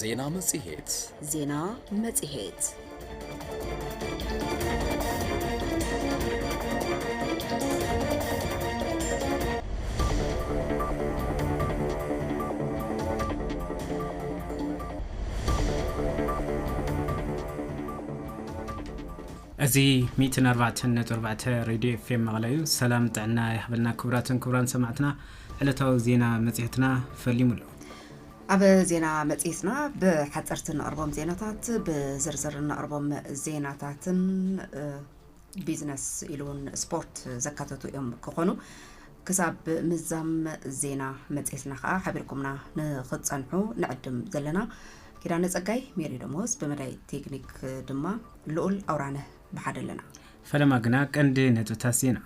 ዜና መጽሔት ዜና መጽሔት እዚ ሚእትን ኣርባዕተን ነጥቢ ኣርባዕተ ሬድዮ ኤፍኤም መቐለ እዩ ሰላም ጥዕና ይሃበልና ክቡራትን ክቡራን ሰማዕትና ዕለታዊ ዜና መፅሄትና ፈሊሙ ኣሎ ኣብ ዜና መጽሔትና ብሓጸርቲ እነቕርቦም ዜናታት፣ ብዝርዝር እነቕርቦም ዜናታትን ቢዝነስ ኢሉ እውን ስፖርት ዘካተቱ እዮም ክኾኑ። ክሳብ ምዛም ዜና መጽሔትና ከዓ ሓቢርኩምና ንኽትጸንሑ ንዕድም ዘለና ኪዳነ ጸጋይ፣ ሜሪ ደሞዝ፣ ብመዳይ ቴክኒክ ድማ ልኡል ኣውራነ ብሓደ ኣለና። ፈለማ ግና ቀንዲ ነጥብታት ዜና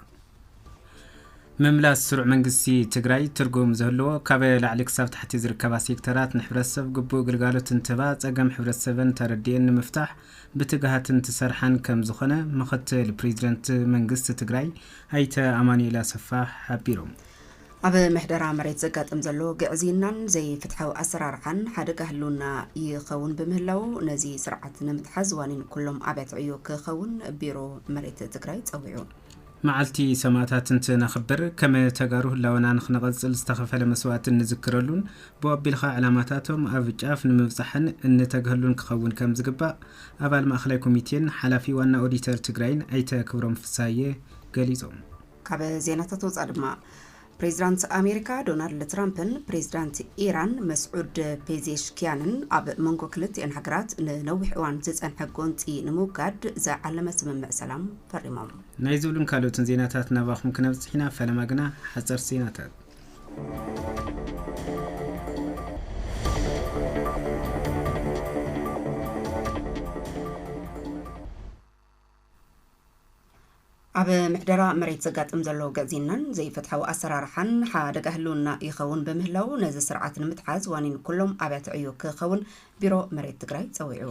ምምላስ ስሩዕ መንግስቲ ትግራይ ትርጉም ዝህልዎ ካብ ላዕሊ ክሳብ ታሕቲ ዝርከባ ሴክተራት ንሕብረተሰብ ግቡእ ግልጋሎት እንትህባ ፀገም ሕብረተሰበን ተረዲኤን ንምፍታሕ ብትግሃት እንትሰርሓን ከም ዝኾነ ምኽትል ፕሬዚደንት መንግስቲ ትግራይ ኣይተ ኣማኑኤል ኣሰፋ ሓቢሮም። ኣብ ምሕደራ መሬት ዘጋጥም ዘሎ ግዕዝይናን ዘይፍትሓዊ ኣሰራርዓን ሓደጋ ህልውና ይኸውን ብምህላዉ ነዚ ስርዓት ንምትሓዝ ዋኒን ኩሎም ኣብያተ ዕዮ ክኸውን ቢሮ መሬት ትግራይ ፀዊዑ። መዓልቲ ሰማእታት እንትነኽብር ከም ተጋሩ ህላወና ንክነቐፅል ዝተኸፈለ መስዋእቲ እንዝክረሉን ብኡ ኣቢልኻ ዕላማታቶም ኣብ ጫፍ ንምብፃሕን እንተግሀሉን ክኸውን ከምዝግባእ ኣባል ማእኸላይ ኮሚቴን ሓላፊ ዋና ኦዲተር ትግራይን ኣይተ ክብሮም ፍስሃየ ገሊፆም። ካብ ዜናታት ወፃእ ድማ ፕሬዚዳንት ኣሜሪካ ዶናልድ ትራምፕን ፕሬዚዳንት ኢራን መስዑድ ፔዜሽኪያንን ኣብ መንጎ ክልቲኤን ሃገራት ንነዊሕ እዋን ዝፀንሐ ጎንፂ ንምውጋድ ዝዓለመ ስምምዕ ሰላም ፈሪሞም። ናይ ዝብሉን ካልኦትን ዜናታት ናባኹም ክነብፅሕ ኢና፣ ፈለማ ግና ሓፀርቲ ዜናታት። ኣብ ምሕደራ መሬት ዘጋጥም ዘሎ ግዕዝይናን ዘይፍትሓዊ ኣሰራርሓን ሓደጋ ህልውና ይኸውን ብምህላው ነዚ ስርዓት ንምትሓዝ ዋኒን ኩሎም ኣብያተ ዕዮ ክኸውን ቢሮ መሬት ትግራይ ፀዊዑ።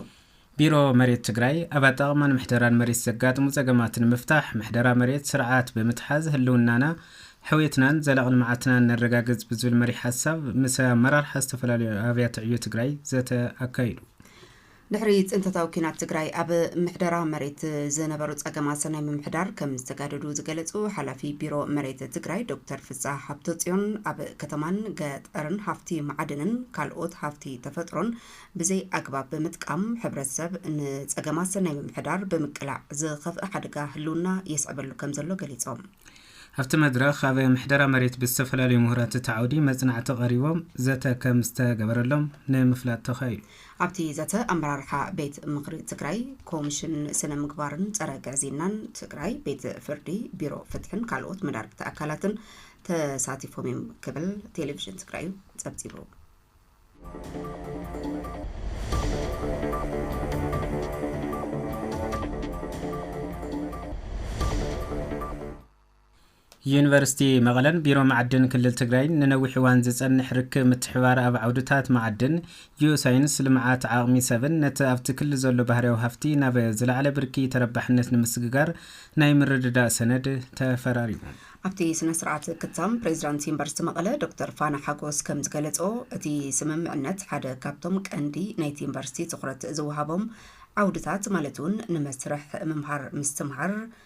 ቢሮ መሬት ትግራይ ኣብ ኣጠቓቕማን ምሕደራን መሬት ዘጋጥሙ ፀገማት ንምፍታሕ ምሕደራ መሬት ስርዓት ብምትሓዝ ህልውናና ሕውየትናን ዘላቒ ልምዓትናን ነረጋግፅ ብዝብል መሪሕ ሓሳብ ምስ ኣመራርሓ ዝተፈላለዩ ኣብያተ ዕዮ ትግራይ ዘተ ኣካይዱ። ድሕሪ ፅንተታዊ ኲናት ትግራይ ኣብ ምሕደራ መሬት ዝነበሩ ፀገማት ሰናይ ምምሕዳር ከም ዝተጋደዱ ዝገለፁ ሓላፊ ቢሮ መሬት ትግራይ ዶክተር ፍስሃ ሃብተፅዮን ኣብ ከተማን ገጠርን ሃፍቲ መዓድንን ካልኦት ሃፍቲ ተፈጥሮን ብዘይ ኣግባብ ብምጥቃም ሕብረተሰብ ንፀገማት ሰናይ ምምሕዳር ብምቅላዕ ዝኸፍእ ሓደጋ ህልውና የስዕበሉ ከም ዘሎ ገሊፆም። ኣብቲ መድረኽ ኣብ ምሕደራ መሬት ብዝተፈላለዩ ምሁራት እቲ ዓውዲ መፅናዕቲ ቀሪቦም ዘተ ከም ዝተገበረሎም ንምፍላጥ ተኻኢሉ። ኣብቲ ዘተ ኣመራርሓ ቤት ምኽሪ ትግራይ፣ ኮምሽን ስነ ምግባርን ፀረ ግዕዝይናን ትግራይ፣ ቤት ፍርዲ፣ ቢሮ ፍትሕን ካልኦት መዳርግቲ ኣካላትን ተሳቲፎም እዮም ክብል ቴሌቪዥን ትግራይ ፀብፂቡ። ዩኒቨርሲቲ መቐለን ቢሮ ማዕድን ክልል ትግራይን ንነዊሕ እዋን ዝፀንሕ ርክብ ምትሕብባር ኣብ ዓውድታት ማዕድን፣ ጂኦሳይንስ፣ ልምዓት ዓቕሚ ሰብን ነቲ ኣብቲ ክልል ዘሎ ባህርያዊ ሃፍቲ ናብ ዝለዓለ ብርኪ ተረባሕነት ንምስግጋር ናይ ምርድዳእ ሰነድ ተፈራሪሞም። ኣብቲ ስነ ስርዓት ክታም ፕሬዚዳንት ዩኒቨርሲቲ መቐለ ዶክተር ፋና ሓጎስ ከምዝገለፅኦ እቲ ስምምዕነት ሓደ ካብቶም ቀንዲ ናይቲ ዩኒቨርሲቲ ትኹረት ዝወሃቦም ዓውድታት ማለት እውን ንመስርሕ ምምሃር ምስትምሃር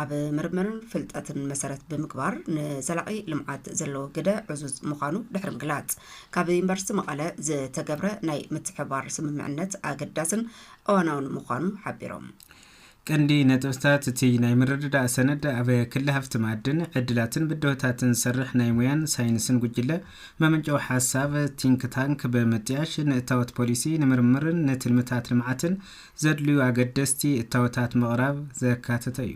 ኣብ ምርምርን ፍልጠትን መሰረት ብምግባር ንዘላቒ ልምዓት ዘለዎ ግደ ዕዙዝ ምዃኑ ድሕሪ ምግላፅ፣ ካብ ዩኒቨርሲቲ መቐለ ዝተገብረ ናይ ምትሕብባር ስምምዕነት ኣገዳስን እዋናውን ምዃኑ ሓቢሮም። ቀንዲ ነጥብታት እቲ ናይ ምርድዳእ ሰነድ፣ ኣብ ክሊ ሃፍቲ መኣድን፣ ዕድላትን ብድሆታትን ዝሰርሕ ናይ ሙያን ሳይንስን ጉጅለ መመንጨዊ ሓሳብ፣ ቲንክ ታንክ፣ ብምጥያሽ ንእታወት ፖሊሲ፣ ንምርምርን ንትልምታት ልምዓትን ዘድልዩ ኣገደስቲ እታወታት ምቕራብ ዘካተተ እዩ።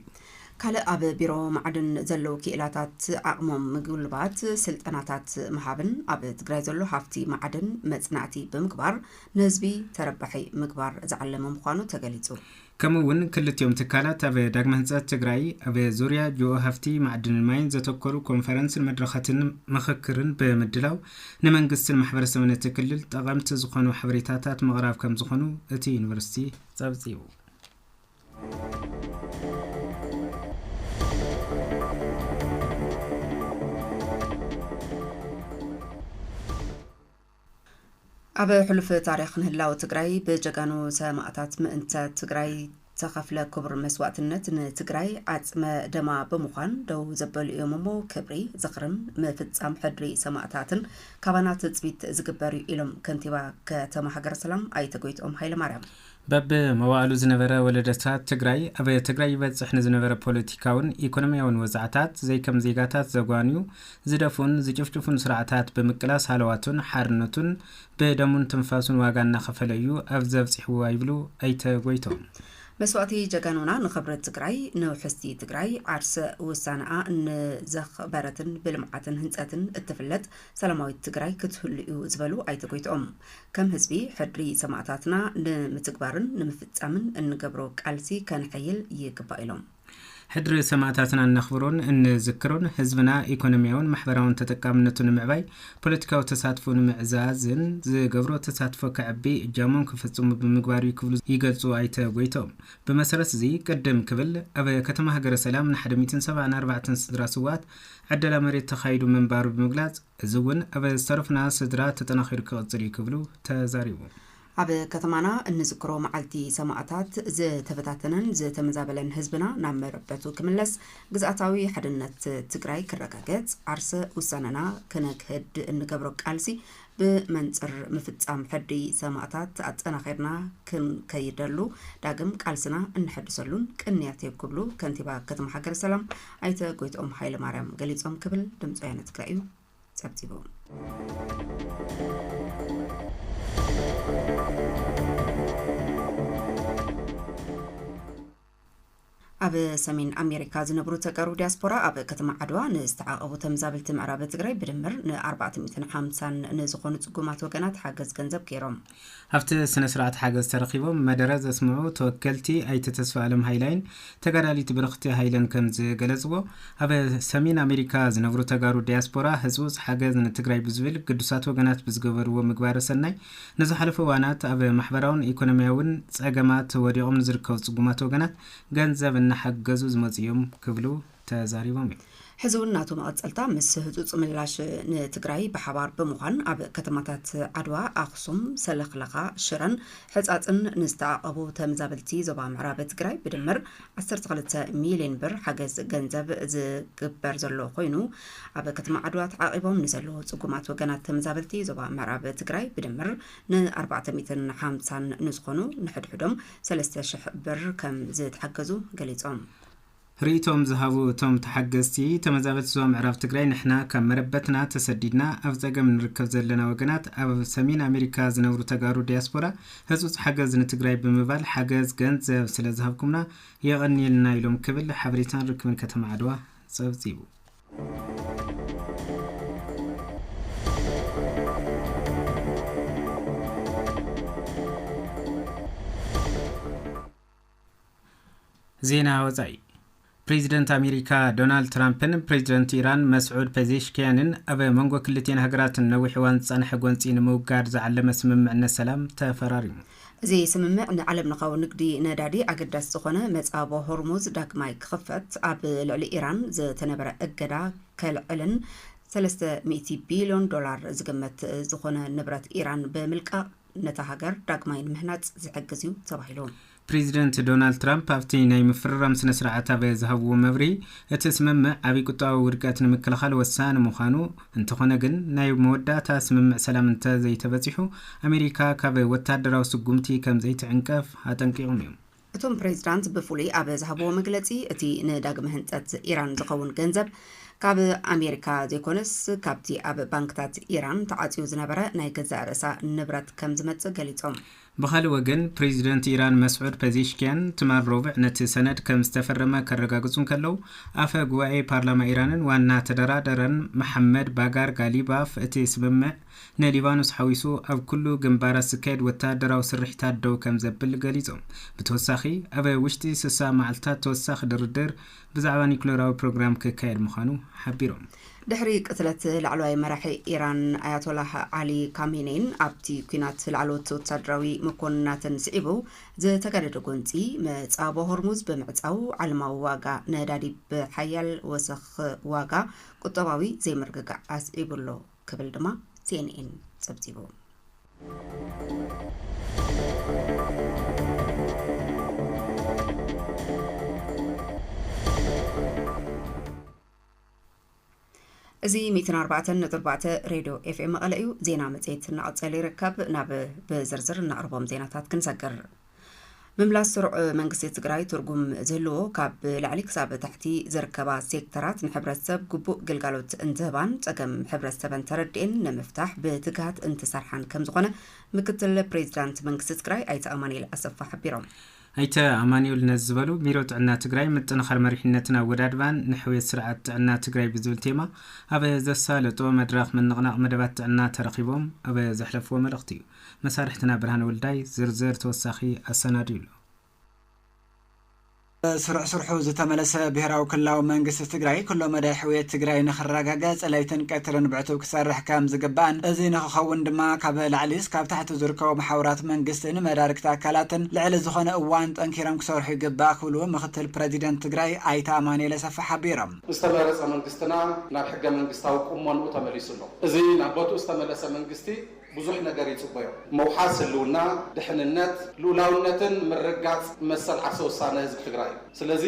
ካልእ ኣብ ቢሮ ማዕድን ዘለዉ ክኢላታት ዓቕሞም ምግልባት ስልጠናታት ምሃብን ኣብ ትግራይ ዘሎ ሃፍቲ ማዕድን መፅናዕቲ ብምግባር ንህዝቢ ተረባሒ ምግባር ዝዓለመ ምዃኑ ተገሊፁ። ከምኡ እውን ክልቲኦም ትካላት ኣብ ዳግመ ህንፀት ትግራይ ኣብ ዙርያ ጂኦ ሃፍቲ ማዕድንን ማይን ዘተኮሩ ኮንፈረንስን መድረኻትን ምኽክርን ብምድላው ንመንግስትን ማሕበረሰብን እቲ ክልል ጠቐምቲ ዝኾኑ ሓበሬታታት ምቕራብ ከምዝኾኑ እቲ ዩኒቨርሲቲ ፀብፂቡ። ኣብ ሕሉፍ ታሪኽ ንህላወ ትግራይ ብጀጋኑ ሰማእታት ምእንተ ትግራይ ተኸፍለ ክቡር መስዋእትነት ንትግራይ ዓፅመ ደማ ብምዃን ደው ዘበሉ እዮም እሞ ክብሪ ዝኽርን ምፍፃም ሕድሪ ሰማእታትን ካባና ትፅቢት ዝግበር እዩ ኢሎም ከንቲባ ከተማ ሃገረ ሰላም ኣይተ ጎይትኦም ሃይለማርያም። በብ መዋእሉ ዝነበረ ወለደታት ትግራይ ኣብ ትግራይ ይበፅሕ ንዝነበረ ፖለቲካውን ኢኮኖሚያውን ወፃዕታት ዘይከም ዜጋታት ዘጓንዩ፣ ዝደፍኡን ዝጭፍጭፉን ስርዓታት ብምቅላስ ሃለዋቱን ሓርነቱን ብደሙን ትንፋሱን ዋጋ እናኸፈለ እዩ ኣብዚ ኣብፂሕዋ ይብሉ ኣይተ ጎይትኦም። መስዋእቲ ጀጋኑና ንኽብሪ ትግራይ፣ ንውሕስቲ ትግራይ፣ ዓርሰ ውሳነኣ ንዘኽበረትን ብልምዓትን ህንፀትን እትፍለጥ ሰላማዊት ትግራይ ክትህሉ እዩ ዝበሉ ኣይተ ጎይትኦም፣ ከም ህዝቢ ሕድሪ ሰማእታትና ንምትግባርን ንምፍፃምን እንገብሮ ቃልሲ ከነሐይል ይግባእ ኢሎም። ሕድሪ ሰማእታትና እነኽብሮን እንዝክሮን፣ ህዝብና ኢኮኖሚያውን ማሕበራውን ተጠቃምነቱ ንምዕባይ፣ ፖለቲካዊ ተሳትፎኡ ንምዕዛዝን ዝገብሮ ተሳትፎ ከዕቢ እጃሞም ክፍፅሙ ብምግባር እዩ ክብሉ ይገልፁ ኣይተ ጎይትኦም። ብመሰረት እዚ ቅድም ክብል ኣብ ከተማ ሃገረ ሰላም ንሓደ ሚእትን ሰብዓን ኣርባዕተን ስድራ ስውኣት ዕደላ መሬት ተኻይዱ ምንባሩ ብምግላፅ፣ እዚ እውን ኣብ ዝተረፉና ስድራ ተጠናኺሩ ክቕፅል እዩ ክብሉ ተዛሪቦም። ኣብ ከተማና እንዝክሮ መዓልቲ ሰማእታት ዝተበታተነን ዝተመዛበለን ህዝብና ናብ መረበቱ ክምለስ፣ ግዝኣታዊ ሓድነት ትግራይ ክረጋገፅ፣ ዓርሰ ውሳነና ክነግህድ እንገብሮ ቃልሲ ብመንፅር ምፍፃም ሕድሪ ሰማእታት ኣጠናኺርና ክንከይደሉ ዳግም ቃልስና እነሐድሰሉን ቅንያት እዩ ክብሉ ከንቲባ ከተማ ሃገረሰላም ኣይተ ጎይትኦም ሃይለማርያም ገሊፆም ክብል ድምፂ ወያነ ትግራይ እዩ ጸብጺቦም። ኣብ ሰሜን ኣሜሪካ ዝነብሩ ተቀሩ ዲያስፖራ ኣብ ከተማ ዓድዋ ንዝተዓቐቡ ተምዛብልቲ ምዕራብ ትግራይ ብድምር ን450 ንዝኾኑ ጽጉማት ወገናት ሓገዝ ገንዘብ ገይሮም። ኣብቲ ስነ ስርዓት ሓገዝ ተረኺቦም መደረ ዘስምዑ ተወከልቲ ኣይተ ተስፋኣለም ሃይላይን ተጋዳሊት ብርኽቲ ሃይለን ከምዝገለፅዎ ኣብ ሰሜን ኣሜሪካ ዝነብሩ ተጋሩ ዲያስፖራ ህፅውፅ ሓገዝ ንትግራይ ብዝብል ግዱሳት ወገናት ብዝገበርዎ ምግባረ ሰናይ ንዝሓለፉ እዋናት ኣብ ማሕበራውን ኢኮኖሚያውን ፀገማት ወዲቖም ንዝርከቡ ፅጉማት ወገናት ገንዘብ እናሓገዙ ዝመፁ እዮም ክብሉ ተዛሪቦም እዮም። ሕዚ እውን ናቱ መቐፀልታ ምስ ህፁፅ ምላሽ ንትግራይ ብሓባር ብምዃን ኣብ ከተማታት ዓድዋ፣ ኣኽሱም፣ ሰለኽለኻ፣ ሽረን ሕፃፅን ንዝተዓቐቡ ተመዛበልቲ ዞባ ምዕራብ ትግራይ ብድምር ዓሰርተ ክልተ ሚሊየን ብር ሓገዝ ገንዘብ ዝግበር ዘሎ ኮይኑ ኣብ ከተማ ዓድዋ ተዓቒቦም ንዘለዉ ፅጉማት ወገናት ተመዛበልቲ ዞባ ምዕራብ ትግራይ ብድምር ንኣርባዕተ ሚእትን ሓምሳን ንዝኾኑ ንሕድሕዶም ሰለስተ ሽሕ ብር ከም ዝተሓገዙ ገሊፆም። ርእይቶኦም ዝሃቡ እቶም ተሓገዝቲ፣ ተመዛበልቲ ዞባ ምዕራብ ትግራይ ንሕና ካብ መረበትና ተሰዲድና ኣብ ፀገም ንርከብ ዘለና ወገናት ኣብ ሰሜን ኣሜሪካ ዝነብሩ ተጋሩ ዲያስፖራ ህፁፅ ሓገዝ ንትግራይ ብምባል ሓገዝ ገንዘብ ስለዝሃብኩምና የቐንየልና ኢሎም ክብል ሓበሬታን ርክብን ከተማ ዓድዋ ፀብፂቡ። ዜና ወፃኢ ፕሬዚደንት ኣሜሪካ ዶናልድ ትራምፕን ፕሬዚደንት ኢራን መስዑድ ፔዜሽኪያንን ኣብ መንጎ ክልቲኤን ሃገራት ነዊሕ እዋን ዝፀንሐ ጎንፂ ንምውጋድ ዝዓለመ ስምምዕነት ሰላም ተፈራሪሙ። እዚ ስምምዕ ንዓለም ለኻዊ ንግዲ ነዳዲ ኣገዳሲ ዝኾነ መፃቦ ሆርሙዝ ዳግማይ ክኽፈት፣ ኣብ ልዕሊ ኢራን ዝተነበረ እገዳ ከልዕልን ሰለስተ ሚእቲ ቢልዮን ዶላር ዝግመት ዝኾነ ንብረት ኢራን ብምልቃቕ ነታ ሃገር ዳግማይ ንምህናጽ ዝሕግዝ እዩ ተባሂሉ። ፕሬዚደንት ዶናልድ ትራምፕ ኣብቲ ናይ ምፍርራም ስነ ስርዓት ኣብ ዝሃብዎ መብርሂ እቲ ስምምዕ ዓብዪ ቁጠባዊ ውድቀት ንምክልኻል ወሳኒ ምዃኑ እንተኾነ ግን ናይ መወዳእታ ስምምዕ ሰላም እንተዘይተበፂሑ ኣሜሪካ ካብ ወታደራዊ ስጉምቲ ከምዘይትዕንቀፍ ኣጠንቂቖም እዮም። እቶም ፕሬዝዳንት ብፍሉይ ኣብ ዝሃብዎ መግለፂ እቲ ንዳግመ ህንፀት ኢራን ዝኸውን ገንዘብ ካብ ኣሜሪካ ዘይኮነስ ካብቲ ኣብ ባንክታት ኢራን ተዓፅዩ ዝነበረ ናይ ገዛእ ርእሳ ንብረት ከምዝመፅእ ገሊፆም። ብኻልእ ወገን ፕሬዝደንት ኢራን መስዑድ ፐዜሽኪያን ትማል ሮብዕ ነቲ ሰነድ ከምዝተፈረመ ከረጋግፁ እንከለው ኣፈ ጉባኤ ፓርላማ ኢራንን ዋና ተደራደረን መሓመድ ባጋር ጋሊባፍ እቲ ስምምዕ ንሊባኖስ ሓዊሱ ኣብ ኩሉ ግንባራት ዝካየድ ወተሃደራዊ ስርሒታት ደው ከም ዘብል ገሊጹ። ብተወሳኺ ኣብ ውሽጢ ስሳ መዓልታት ተወሳኺ ድርድር ብዛዕባ ኒዩክለራዊ ፕሮግራም ክካየድ ምዃኑ ሓቢሮም። ድሕሪ ቅትለት ላዕለዋይ መራሒ ኢራን ኣያቶላህ ዓሊ ካሜኔይን ኣብቲ ኲናት ላዕለዎት ወተሃደራዊ መኮንናትን ስዒቡ ዝተጋደደ ጎንጺ መጻብቦ ሆርሙዝ ብምዕጻው ዓለማዊ ዋጋ ነዳዲ ብሓያል ወሰኽ ዋጋ ቁጠባዊ ዘይምርግጋእ ኣስዒቡ'ሎ። ክብል ድማ ሲኤንኤን ጸብጺቡ። እዚ ሚእትን ኣርባዕተን ነጥቢ ኣርባዕተ ሬድዮ ኤፍኤም መቐለ እዩ። ዜና መጽሔት እናቐጸለ ይርከብ። ናብ ብዝርዝር እናቕርቦም ዜናታት ክንሰግር ምምላስ ስሩዕ መንግስቲ ትግራይ ትርጉም ዝህልዎ ካብ ላዕሊ ክሳብ ታሕቲ ዝርከባ ሴክተራት ንሕብረተሰብ ግቡእ ግልጋሎት እንትህባን ፀገም ሕብረተሰበን ተረድኤን ንምፍታሕ ብትግሃት እንትሰርሓን ከምዝኾነ ምክትል ፕሬዚዳንት መንግስቲ ትግራይ ኣይተ ኣማኒኤል ኣሰፋ ሓቢሮም። ኣይተ ኣማኒኤል ነዚ ዝበሉ ቢሮ ጥዕና ትግራይ ምጥንኻር መሪሕነትን ኣወዳድባን ንሕውየት ስርዓት ጥዕና ትግራይ ብዝብል ቴማ ኣብ ዘሳለጦ መድረኽ ምንቕናቕ መደባት ጥዕና ተረኺቦም ኣብ ዘሕለፍዎ መልእኽቲ እዩ። መሳርሕትና ብርሃነ ወልዳይ ዝርዝር ተወሳኺ ኣሰናድዩ ኣሎ። ብስሩዕ ስርሑ ዝተመለሰ ብሄራዊ ክልላዊ መንግስቲ ትግራይ ኩሎ መዳይ ሕውየት ትግራይ ንኽረጋገፅ ለይትን ቀትርን ብዕቱብ ክሰርሕ ከምዝግባእን እዚ ንኽኸውን ድማ ካብ ላዕሊ እስካብ ታሕቲ ዝርከቡ መሓውራት መንግስትን መዳርግቲ ኣካላትን ልዕሊ ዝኾነ እዋን ጠንኪሮም ክሰርሑ ይግባእ ክብሉ ምኽትል ፕረዚደንት ትግራይ ኣይተ ኣማኑኤል ኣሰፋ ሓቢሮም። ዝተመረፀ መንግስትና ናብ ሕገ መንግስታዊ ቁሞንኡ ተመሊሱ ኣሎ። እዚ ናብ ቦትኡ ዝተመለሰ መንግስቲ ብዙሕ ነገር ይጽበዮ። ምውሓስ ህልውና፣ ድሕንነት፣ ልኡላውነትን ምርግጋጽ መሰል ዓርሰ ውሳነ ህዝቢ ትግራይ እዩ። ስለዚ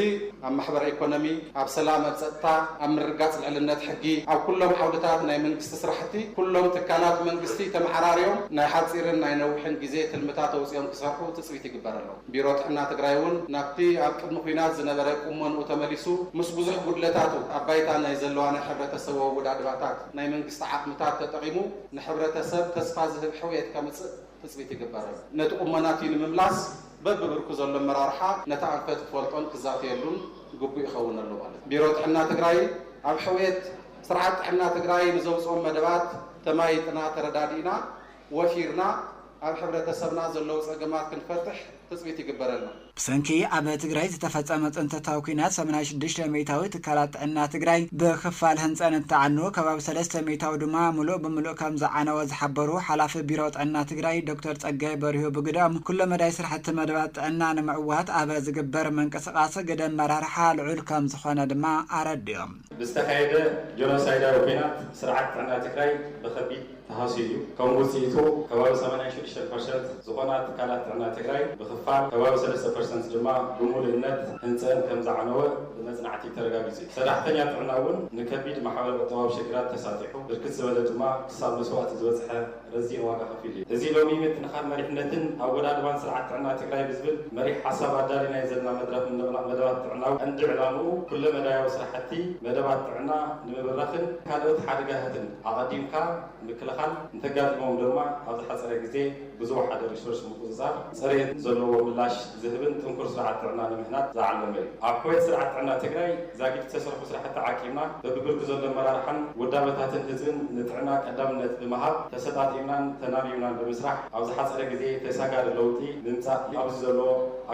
ኣብ ማሕበረ ኢኮኖሚ፣ ኣብ ሰላም፣ ኣብ ጸጥታ፣ ኣብ ምርግጋጽ ልዕልነት ሕጊ፣ ኣብ ኩሎም ዓውድታት ናይ መንግስቲ ስራሕቲ ኩሎም ትካላት መንግስቲ ተመዓራርዮም ናይ ሓጺርን ናይ ነዊሕን ግዜ ትልምታት ኣውጺኦም ክሰርሑ ትጽቢት ይግበረሎም። ቢሮ ጥዕና ትግራይ እውን ናብቲ ኣብ ቅድሚ ኵናት ዝነበረ ቁመንኡ ተመሊሱ ምስ ብዙሕ ጉድለታቱ ኣብ ባይታ ናይ ዘለዋ ናይ ሕብረተ ሰብ ኣወዳድባታት ናይ መንግስቲ ዓቕምታት ተጠቒሙ ንሕብረተሰብ ተስፋ ዝህብ ሕውየት ከምፅእ ትፅቢት ይግበርም። ነቲ ቁመና እቲ ንምምላስ በቢብርኩ ዘሎ ኣመራርሓ ነቲ ኣንፈት ክፈልጦን ክዛተየሉን ግቡእ ይኸውን ኣሎ በሉ። ቢሮ ጥዕና ትግራይ ኣብ ሕውየት ስርዓት ጥዕና ትግራይ ንዘውፅኦም መደባት ተማይጥና፣ ተረዳዲእና፣ ወፊርና፣ ኣብ ሕብረተሰብና ዘለዉ ፀገማት ክንፈትሕ ትፅቢት ይግበረልና። ብሰንኪ ኣብ ትግራይ ዝተፈፀመ ፅንተታዊ ኲናት ሰማንያ ሽዱሽተ ሚኢታዊ ትካላት ጥዕና ትግራይ ብኽፋል ህንፀን እንትዓንው ከባቢ ሰለስተ ሚኢታዊ ድማ ሙሉእ ብሙሉእ ከምዝዓነወ ዝሓበሩ ሓላፊ ቢሮ ጥዕና ትግራይ ዶክተር ፀጋይ በሪሁ ብግደኦም፣ ኩለ መዳይ ስራሕቲ መደባት ጥዕና ንምዕዋት ኣብ ዝግበር ምንቅስቓስ ግደ ኣመራርሓ ልዑል ከምዝኾነ ድማ ኣረዲኦም። ብዝተኻየደ ጆኖሳይዳዊ ኲናት ስርዓት ጥዕና ትግራይ ብኸቢድ። ተሃስዩ እዩ። ከም ውፅኢቱ ከባቢ ሰማንያ ሽዱሽተ ፐርሰንት ዝኾና ትካላት ጥዕና ትግራይ ብኽፋል፣ ከባቢ ሰለስተ ፐርሰንት ድማ ብሙሉእነት ህንፀእን ከምዝዓነወ ብመፅናዕቲ ተረጋጊፁ እዩ። ሰራሕተኛ ጥዕና እውን ንከቢድ ማሕበረ ቁጠባዊ ሽግራት ተሳጢሑ፣ ብርክት ዝበለ ድማ ክሳብ መስዋእቲ ዝበፅሐ ረዚን ዋጋ ከፊሉ እዩ። እዚ ሎሚ ምጥንኻር መሪሕነትን ኣወዳድባን ስርዓት ጥዕና ትግራይ ብዝብል መሪሕ ሓሳብ ኣዳሊናዮ ዘለና መድረኽ ምንቕናቕ መደባት ጥዕና ቀንዲ ዕላምኡ ኩለመዳያዊ ስራሕቲ መደባት ጥዕና ንምብራኽን ካልኦት ሓደጋታትን ኣቐዲምካ ምክልኻል፣ እንተጋጢሞም ድማ ኣብ ዝሓጸረ ግዜ ብዝወሓደ ሪሶርስ ምቁጽጻር፣ ጽሬት ዘለዎ ምላሽ ዝህብን ጥንኩር ስርዓት ጥዕና ንምህናጽ ዝዓለመ እዩ። ኣብ ሕውየት ስርዓት ጥዕና ትግራይ ዛጊድ ዝተሰርሑ ስራሕቲ ዓቂብና፣ በቢብርኪ ዘሎ ኣመራርሓን ውዳበታትን ህዝብን ንጥዕና ቀዳምነት ብምሃብ ተሰጣጢምናን ተናቢብናን ብምስራሕ ኣብ ዝሓጸረ ግዜ ተሳጋሪ ለውጢ ምምጻእ ኣብዚ ዘሎ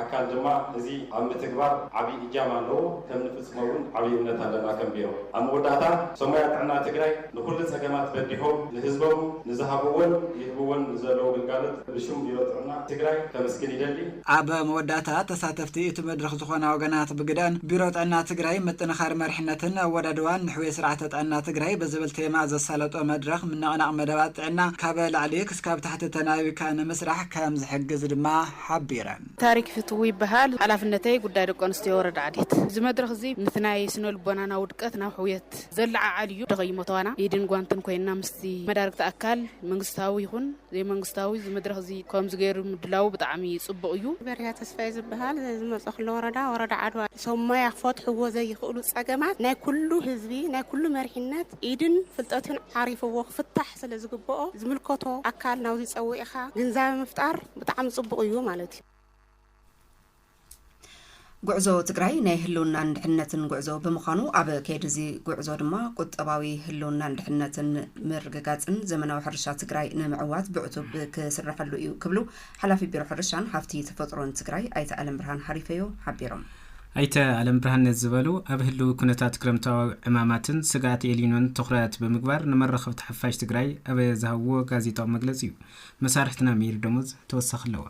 ኣካል ድማ እዚ ኣብ ምትግባር ዓቢ እጃም ኣለዎ። ከም ንስመ እውን ዓብይ እምነት ኣለና ከም ቢሮ። ኣብ መወዳእታ ሰሙያ ጥዕና ትግራይ ንኹሉ ፀገማት በዲሖም ንህዝቦም ንዝሃብዎን ይህብዎን ንዘለዉ ግልጋሎት ብሽም ቢሮ ጥዕና ትግራይ ከምስግን ይደሊ። ኣብ መወዳእታ ተሳተፍቲ እቲ መድረኽ ዝኾና ወገናት ብግደኣን ቢሮ ጥዕና ትግራይ ምጥንኻር መሪሕነትን ኣወዳድባን ንሕውየት ስርዓተ ጥዕና ትግራይ ብዝብል ቴማ ዘሳለጦ መድረኽ ምንቕናቕ መደባት ጥዕና ካብ ላዕሊ ክስካብ ታሕቲ ተናቢብካ ንምስራሕ ከምዝሕግዝ ድማ ሓቢረን። ታሪክ ፍትዉ ይበሃል ሓላፍነተይ ጉዳይ ደቂ ኣንስትዮ ወረዳ ዓዴት። እዚ መድረኽ እዚ ንቲ ናይ ስነ ልቦናና ውድቀት ናብ ሕውየት ዘለዓዓል እዩ። ደኸይሞ ተዋና ኢድን ጓንትን ኮይንና ምስቲ መዳርግቲ ኣካል መንግስታዊ ይኹን ዘይመንግስታዊ እዚ መድረኽ እዚ ከምዚ ገይሩ ምድላዉ ብጣዕሚ ጽቡቕ እዩ። በርሀ ተስፋይ ዝብሃል ዝመጾ ክለ ወረዳ ወረዳ ዓድዋ። ሰብ ሞያ ክፈትሕዎ ዘይኽእሉ ጸገማት ናይ ኩሉ ህዝቢ ናይ ኩሉ መሪሕነት ኢድን ፍልጠትን ዓሪፍዎ ክፍታሕ፣ ስለ ዝግበኦ ዝምልከቶ ኣካል ናብዚ ጸዊዕኻ ግንዛበ ምፍጣር ብጣዕሚ ጽቡቕ እዩ ማለት እዩ። ጉዕዞ ትግራይ ናይ ህልውናን ድሕነትን ጉዕዞ ብምዃኑ ኣብ ከይዲ እዚ ጉዕዞ ድማ ቁጠባዊ ህልውናን ድሕነትን ምርግጋፅን ዘመናዊ ሕርሻ ትግራይ ንምዕዋት ብዕቱብ ክስረሐሉ እዩ ክብሉ ሓላፊ ቢሮ ሕርሻን ሃፍቲ ተፈጥሮን ትግራይ ኣይተ ኣለምብርሃን ሃሪፈዮ ሓቢሮም። ኣይተ ኣለምብርሃን ነዚ ዝበሉ፣ ኣብ ህልዊ ኩነታት ክረምታዊ ዕማማትን ስግኣት ኤልኒኖን ትኹረት ብምግባር ንመራኸብቲ ሓፋሽ ትግራይ ኣብ ዝሃብዎ ጋዜጣዊ መግለፂ እዩ። መሳርሕትና ሜሪ ደሞዝ ተወሳኺ ኣለዋ።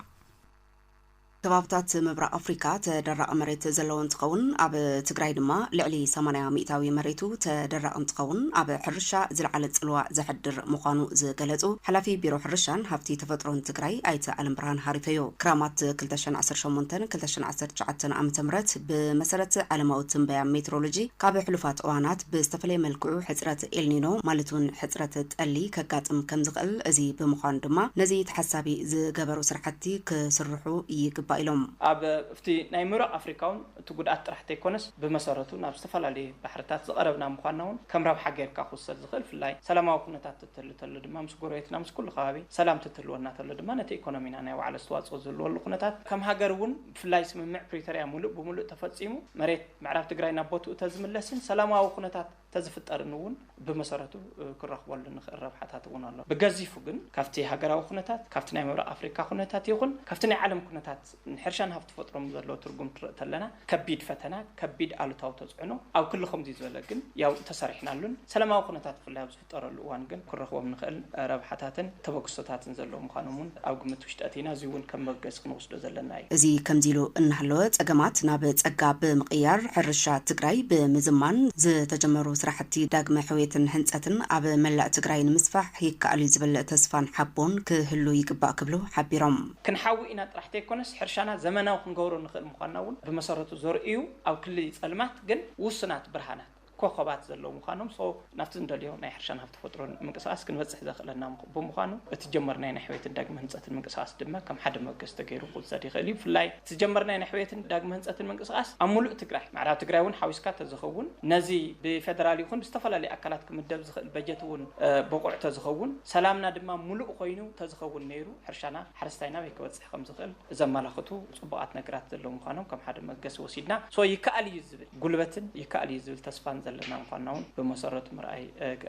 ከባብታት ምብራቕ ኣፍሪካ ተደራቒ መሬት ዘለዎ እንትኸውን ኣብ ትግራይ ድማ ልዕሊ ሰማንያ ሚኢታዊ መሬቱ ተደራቒ እንትኸውን ኣብ ሕርሻ ዝለዓለ ፅልዋ ዘሕድር ምዃኑ ዝገለፁ ሓላፊ ቢሮ ሕርሻን ሃፍቲ ተፈጥሮን ትግራይ ኣይተ ዓለምብርሃን ሃሪፈዮ። ክራማት ክልተ ሽሕን ዓሰርተ ሸሞንተን ክልተ ሽሕን ዓሰርተ ትሽዓተን ዓመተ ምህረት ብመሰረት ዓለማዊ ትንበያ ሜትሮሎጂ ካብ ሕሉፋት እዋናት ብዝተፈለየ መልክዑ ሕፅረት ኤልኒኖ ማለት እውን ሕፅረት ጠሊ ከጋጥም ከምዝኽእል እዚ ብምዃኑ ድማ ነዚ ተሓሳቢ ዝገበሩ ስራሕቲ ክስርሑ ይግባእ ኢሎም። ኣብቲ ናይ ምብራቕ ኣፍሪካ እውን እቲ ጉድኣት ጥራሕ ተይኮነስ ብመሰረቱ ናብ ዝተፈላለዩ ባሕርታት ዝቐረብና ምዃንና እውን ከም ረብሓ ገይርካ ክውሰድ ዝኽእል ፍላይ ሰላማዊ ኩነታት ትህሉ ተሎ ድማ ምስ ጎረቤትና ምስ ኩሉ ከባቢ ሰላም ትትህልወና ተሎ ድማ ነቲ ኢኮኖሚና ናይ ባዕሉ ኣስተዋፅኦ ዝህልወሉ ኩነታት ከም ሃገር እውን ብፍላይ ስምምዕ ፕሪቶርያ ሙሉእ ብሙሉእ ተፈፂሙ መሬት ምዕራብ ትግራይ ናብ ቦትኡ ተዝምለስን ሰላማዊ ኩነታት ተዝፍጠርን እውን ብመሰረቱ ክንረኽበሉ ንኽእል ረብሓታት እውን ኣሎ። ብገዚፉ ግን ካብቲ ሃገራዊ ኩነታት ካብቲ ናይ ምብራቕ ኣፍሪካ ኩነታት ይኹን ካብቲ ናይ ዓለም ኩነታት ንሕርሻን ሃፍቲ ተፈጥሮን ዘለዎ ትርጉም ትርእ ተለና ከቢድ ፈተና ከቢድ ኣሉታዊ ተፅዕኖ ኣብ ክሊ ከምዙይ ዝበለ ግን ያው ተሰሪሕናሉን ሰላማዊ ኩነታት ብፍላይ ዝፍጠረሉ እዋን ግን ክንረኽቦም እንኽእል ረብሓታትን ተበግሶታትን ዘለዉ ምዃኖም እውን ኣብ ግምት ውሽጢ ኣእቲና እዙይ እውን ከም መርገፂ ክንወስዶ ዘለና እዩ። እዙይ ከምዙይ ኢሉ እናሃለወ ፀገማት ናብ ፀጋ ብምቕያር ሕርሻ ትግራይ ብምዝማን ዝተጀመሩ ስራሕቲ ዳግመ ሕውየትን ህንፀትን ኣብ መላእ ትግራይ ንምስፋሕ ይከኣል እዩ ዝብል ተስፋን ሓቦን ክህሉ ይግባእ ክብሉ ሓቢሮም። ክንሓዊ ኢና ጥራሕ ተይኮነስ ሕርሻና ዘመናዊ ክንገብሮ ንኽእል ምዃንና እውን ብመሰረቱ ዘርእዩ ኣብ ክሊ ፀልማት ግን ውሱናት ብርሃናት፣ ኮኾባት ዘለዉ ምዃኖም so ናብቲ እንደልዮ ናይ ሕርሻን ሃብቲ ተፈጥሮን ምንቅስቓስ ክንበጽሕ ዘኽእለና ብምዃኑ እቲ ዝጀመርናዮ ናይ ሕውየትን ዳግመ ህንጸትን ምንቅስቓስ ድማ ከም ሓደ መበገሲ ተገይሩ ክውሰድ ይኽእል እዩ። ብፍላይ እቲ ዝጀመርናዮ ናይ ሕውየትን ዳግመ ህንጸትን ምንቅስቓስ ኣብ ምሉእ ትግራይ፣ ምዕራብ ትግራይ እውን ሓዊስካ ተዝኸውን ነዚ ብፌደራል ይኹን ብዝተፈላለዩ ኣካላት ክምደብ ዝኽእል በጀት እውን ብቑዕ ተዝኸውን፣ ሰላምና ድማ ምሉእ ኮይኑ ተዝኸውን ነይሩ ሕርሻና ሓረስታይና ኣበይ ክበጽሕ? ከም ዝኽእል ዘመላኽቱ ፅቡቓት ነገራት ዘለዉ ምዃኖም ከም ሓደ መበገሲ ወሲድና so ይከኣል እዩ ዝብል ጉልበትን ይከኣል እዩ ዝብል ተስፋን ዘለና ምዃንና እውን ብመሰረቱ ምርኣይ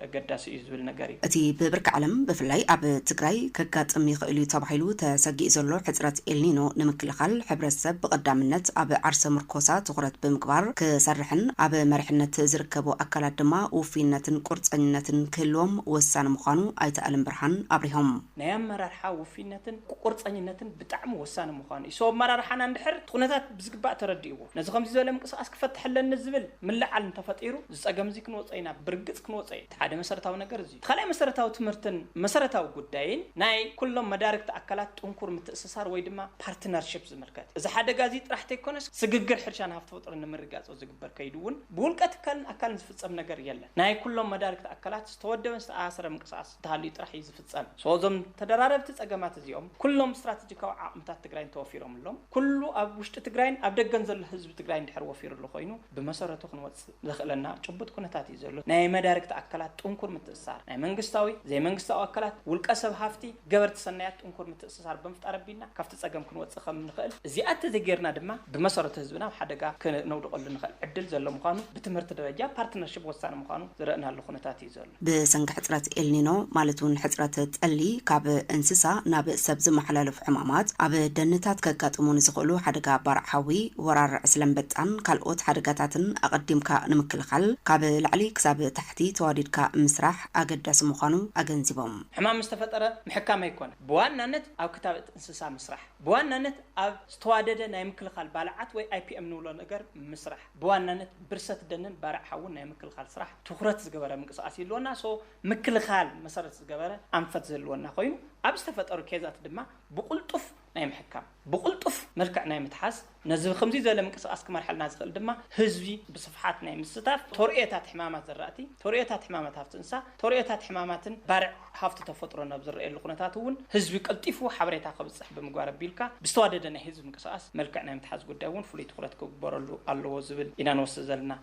ኣገዳሲ እዩ ዝብል ነገር እዩ። እቲ ብብርኪ ዓለም ብፍላይ ኣብ ትግራይ ከጋጥም ይኽእል እዩ ተባሂሉ ተሰጊኡ ዘሎ ሕፅረት ኤልኒኖ ንምክልኻል ሕብረተሰብ ብቐዳምነት ኣብ ዓርሰ ምርኮሳ ትኹረት ብምግባር ክሰርሕን ኣብ መሪሕነት ዝርከቡ ኣካላት ድማ ውፍይነትን ቁርፀኝነትን ክህልዎም ወሳኒ ምዃኑ ኣይተ ኣለምብርሃን ኣብሪሆም። ናይ ኣመራርሓ ውፍይነት ሓላፍነትን ቁርፀኝነትን ብጣዕሚ ወሳኒ ምዃኑ እዩ። ሰው ኣመራርሓና እንድሕር እቲ ኩነታት ብዝግባእ ተረዲእዎ ነዚ ከምዚ ዝበለ ምንቅስቓስ ክፈትሕ ኣለኒ ዝብል ምልዕዓል እንተፈጢሩ እዚ ፀገም እዚ ክንወፆ ኢና፣ ብርግፅ ክንወፆ ኢና። እቲ ሓደ መሰረታዊ ነገር እዚ እዩ። እቲ ካልኣይ መሰረታዊ ትምህርትን መሰረታዊ ጉዳይን ናይ ኩሎም መዳርግቲ ኣካላት ጥንኩር ምትእስሳር ወይ ድማ ፓርትነርሽፕ ዝምልከት እዩ። እዚ ሓደጋ እዚ ጥራሕ ተይኮነስ ስግግር ሕርሻን ሃፍቲ ፍጥርን ንምርግጋፆ ዝግበር ከይዲ እውን ብውልቀ ትካልን ኣካልን ዝፍፀም ነገር የለን። ናይ ኩሎም መዳርግቲ ኣካላት ዝተወደበን ዝተኣሳሰረ ምንቅስቓስ እንተሃልዩ ጥራሕ እዩ ዝፍፀም። So እዞም ተደራረብቲ ፀገማት እዚኦም ኩሎም ስትራቴጂካዊ ዓቕምታት ትግራይ እንተወፊሮምሎም ኩሉ ኣብ ውሽጢ ትግራይን ኣብ ደገን ዘሎ ህዝቢ ትግራይ እንድሕር ወፊርሉ ኮይኑ ብመሰረቱ ክንወፅእ ዘኽእለና ጭቡጥ ኩነታት እዩ ዘሎ። ናይ መዳርግቲ ኣካላት ጥንኩር ምትእስሳር፣ ናይ መንግስታዊ፣ ዘይመንግስታዊ ኣካላት፣ ውልቀ ሰብ ሃፍቲ፣ ገበርቲ ሰናያት ጥንኩር ምትእስሳር ብምፍጣር ኣቢልና ካብቲ ፀገም ክንወፅእ ከም ንኽእል፣ እዚኣ እንተዘይገይርና ድማ ብመሰረቱ ህዝብና ኣብ ሓደጋ ክነውድቐሉ ንኽእል ዕድል ዘሎ ምዃኑ ብትምህርቲ ደረጃ ፓርትነርሽፕ ወሳኒ ምዃኑ ዝረእናሉ ኩነታት እዩ ዘሎ። ዘሎ። ብሰንኪ ሕጽረት ኤልኒኖ ማለት እውን ሕጽረት ጠሊ ካብ እንስሳ ናብ ሰብ ዝመሓላለፉ ሕማማት፣ ኣብ ደንታት ከጋጥሙ ንዝኽእሉ ሓደጋ ባርዕ ሓዊ፣ ወራር ዕስለ ኣንበጣን ካልኦት ሓደጋታትን ኣቐዲምካ ንምክልኻል ካብ ላዕሊ ክሳብ ታሕቲ ተዋዲድካ ምስራሕ ኣገዳሲ ምዃኑ ኣገንዚቦም። ሕማም ምስ ተፈጠረ ምሕካም ኣይኰነን፣ ብዋናነት ኣብ ክታበት እንስሳ ምስራሕ፣ ብዋናነት ኣብ ዝተዋደደ ናይ ምክልኻል ባልዓት ወይ IPM ንብሎ ነገር ምስራሕ፣ ብዋናነት ብርሰት ደንን ባርዕ ሓውን ናይ ምክልኻል ስራሕ ትኹረት ዝገበረ ምንቅስቓስ ይህልወና። so ምክልኻል መሰረት ዝገበረ ኣንፈት ዝህልወና ኮይኑ ኣብ ዝተፈጠሩ ኬዛት ድማ ብቕልጡፍ ናይ ምሕካም ብቕልጡፍ መልክዕ ናይ ምትሓዝ ነዚ ብክምዚ ዝበለ ምንቅስቓስ ክመርሐልና ዝኽእል ድማ ህዝቢ ብስፍሓት ናይ ምስታፍ ተርእዮታት ሕማማት ዘራእቲ ተርእዮታት ሕማማት ሃፍቲ እንስሳ ተርእዮታት ሕማማትን ባርዕ ሃፍቲ ተፈጥሮን ኣብ ዝረኣየሉ ኩነታት እውን ህዝቢ ቀልጢፉ ሓበሬታ ከብፅሕ ብምግባር ኣቢልካ ብዝተዋደደ ናይ ህዝቢ ምንቅስቓስ መልክዕ ናይ ምትሓዝ ጉዳይ እውን ፍሉይ ትኹረት ክግበረሉ ኣለዎ ዝብል ኢና ንወስድ ዘለና።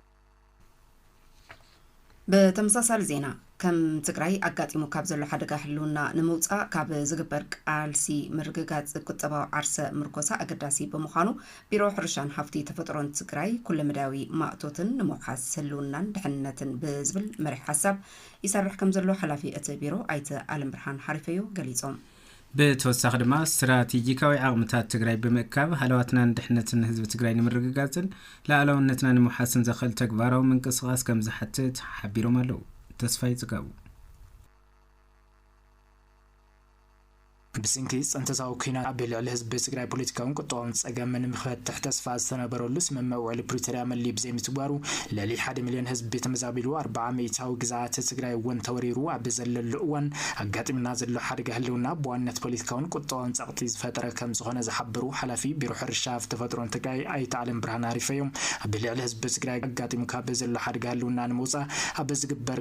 ብተመሳሳሊ ዜና፣ ከም ትግራይ ኣጋጢሙ ካብ ዘሎ ሓደጋ ህልውና ንምውፃእ ካብ ዝግበር ቃልሲ ምርግጋፅ ቁጠባዊ ዓርሰ ምርኮሳ ኣገዳሲ ብምዃኑ ቢሮ ሕርሻን ሃፍቲ ተፈጥሮን ትግራይ ኩለመዳያዊ ማእቶትን ንምውሓስ ህልውናን ድሕንነትን ብዝብል መሪሕ ሓሳብ ይሰርሕ ከምዘሎ ሓላፊ እቲ ቢሮ ኣይተ ኣለምብርሃን ሃሪፈዮ ገሊፆም። ብተወሳኺ ድማ ስትራቴጂካዊ ዓቕምታት ትግራይ ብምእካብ ሃለዋትናን ድሕንነትን ህዝቢ ትግራይ ንምርግጋፅን ላኣላውነትና ንምውሓስን ዘኽእል ተግባራዊ ምንቅስቓስ ከምዝሓትት ሓቢሮም ኣለው። ተስፋይ ፅጋቡ። ብስንኪ ፅንተታዊ ኲናት ኣብ ልዕሊ ህዝቢ ትግራይ ፖለቲካውን ቁጠባውን ፀገም ንምፈትሕ ተስፋ ዝተነበረሉ ስምምዕ ውዕሊ ፕሪቶርያ መሊኡ ብዘይምትግባሩ ልዕሊ ሓደ ሚልዮን ህዝቢ ተመዛቢሉ ኣርባዓ ሚኢታዊ ግዝኣተ ትግራይ እውን ተወሪሩ ኣብ ዘለሉ እዋን ኣጋጢሙና ዘሎ ሓደጋ ህልውና ብዋንነት ፖለቲካውን ቁጠባውን ፀቕጢ ዝፈጠረ ከምዝኾነ ዝሓበሩ ሓላፊ ቢሮ ሕርሻ ሃፍቲ ተፈጥሮን ትግራይ ኣይተ ኣለምብርሃን ኣሪፈዮም ኣብ ልዕሊ ህዝቢ ትግራይ ኣጋጢሙ ካብ ዘሎ ሓደጋ ህልውና ንምውፃእ ኣብ ዝግበር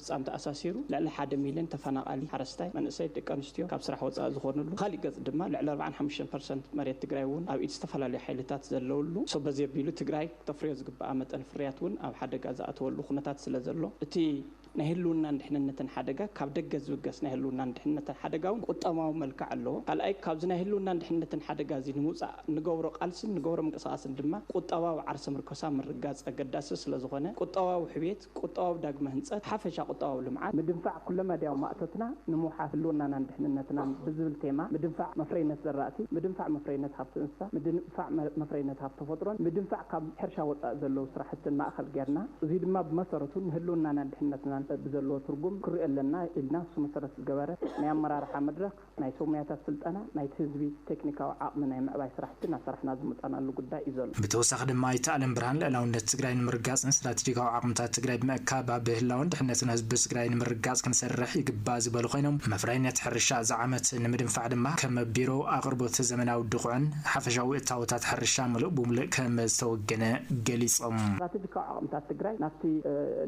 ህጻን ተኣሳሲሩ ልዕሊ ሓደ ሚልዮን ተፈናቓሊ ሓረስታይ መንእሰይ ደቂ ኣንስትዮ ካብ ስራሕ ወጻኢ ዝኾንሉ ብኻሊእ ገጽ ድማ ልዕሊ ኣርብዓን ሓሙሽተን ፐርሰንት መሬት ትግራይ ውን ኣብ ኢድ ዝተፈላለዩ ሓይልታት ዘለውሉ so በዚ ኣቢሉ ትግራይ ክተፍርዮ ዝግበኣ መጠን ፍርያት ውን ኣብ ሓደጋ ዝኣተወሉ ኩነታት ስለ ዘሎ እቲ ናይ ህልውናን ድሕንነትን ሓደጋ ካብ ደገ ዝብገስ ናይ ህልውናን ድሕንነትን ሓደጋ ውን ቁጠማዊ መልክዕ ኣለዎ ካልኣይ ካብዚ ናይ ህልውናን ድሕንነትን ሓደጋ እዚ ንምውጻእ እንገብሮ ቃልስን ንገብሮ ምንቅስቓስን ድማ ቁጠባዊ ዓርሰ ምርኮሳ ምርጋጽ ኣገዳሲ ስለ ዝኾነ ቁጠባዊ ሕውየት ቁጠባዊ ዳግመ ህንፀት፣ ሓፈሻ ቁጠባዊ ልምዓት፣ ምድንፋዕ ኩለመዳያዊ ማእቶትና ንምውሓስ ህልውናናን ድሕንነትናን ብዝብል ቴማ ምድንፋዕ መፍረይነት ዘራእቲ፣ ምድንፋዕ መፍረይነት ሃፍቲ እንስሳ፣ ምድንፋዕ መፍረይነት ሃፍቲ ተፈጥሮን ምድንፋዕ ካብ ሕርሻ ወፃኢ ዘለዉ ስራሕትን ማእኸል ገይርና እዙይ ድማ ብመሰረቱ ንህልውናናን ድሕንነትናን ብዘለዎ ትርጉም ክንሪኦ ኣለና ኢልና ንሱ መሰረት ዝገበረ ናይ ኣመራርሓ መድረኽ ናይ ሰብ ሙያታት ስልጠና፣ ናይቲ ህዝቢ ቴክኒካዊ ዓቕሚ ናይ ምዕባይ ስራሕቲ እናሰራሕና ዝመፃናሉ ጉዳይ እዩ ዘሎ። ብተወሳኺ ድማ ኣይተ ኣለምብርሃን ልዕላውነት ትግራይ ንምርጋፅን ስትራቴጂካዊ ዓቕምታት ትግራይ ብምእካብ ኣብ ህላወን ድሕነትን ህዝቢ ትግራይ ንምርግጋፅ ክንሰርሕ ይግባእ ዝበሉ ኮይኖም፣ መፍረይነት ሕርሻ እዚ ዓመት ንምድንፋዕ ድማ ከም ቢሮ ኣቕርቦት ዘመናዊ ድኹዕን ሓፈሻዊ እታወታት ሕርሻ ሙሉእ ብሙሉእ ከም ዝተወገነ ገሊፆም። ስትራቴጂካዊ ዓቕምታት ትግራይ ናብቲ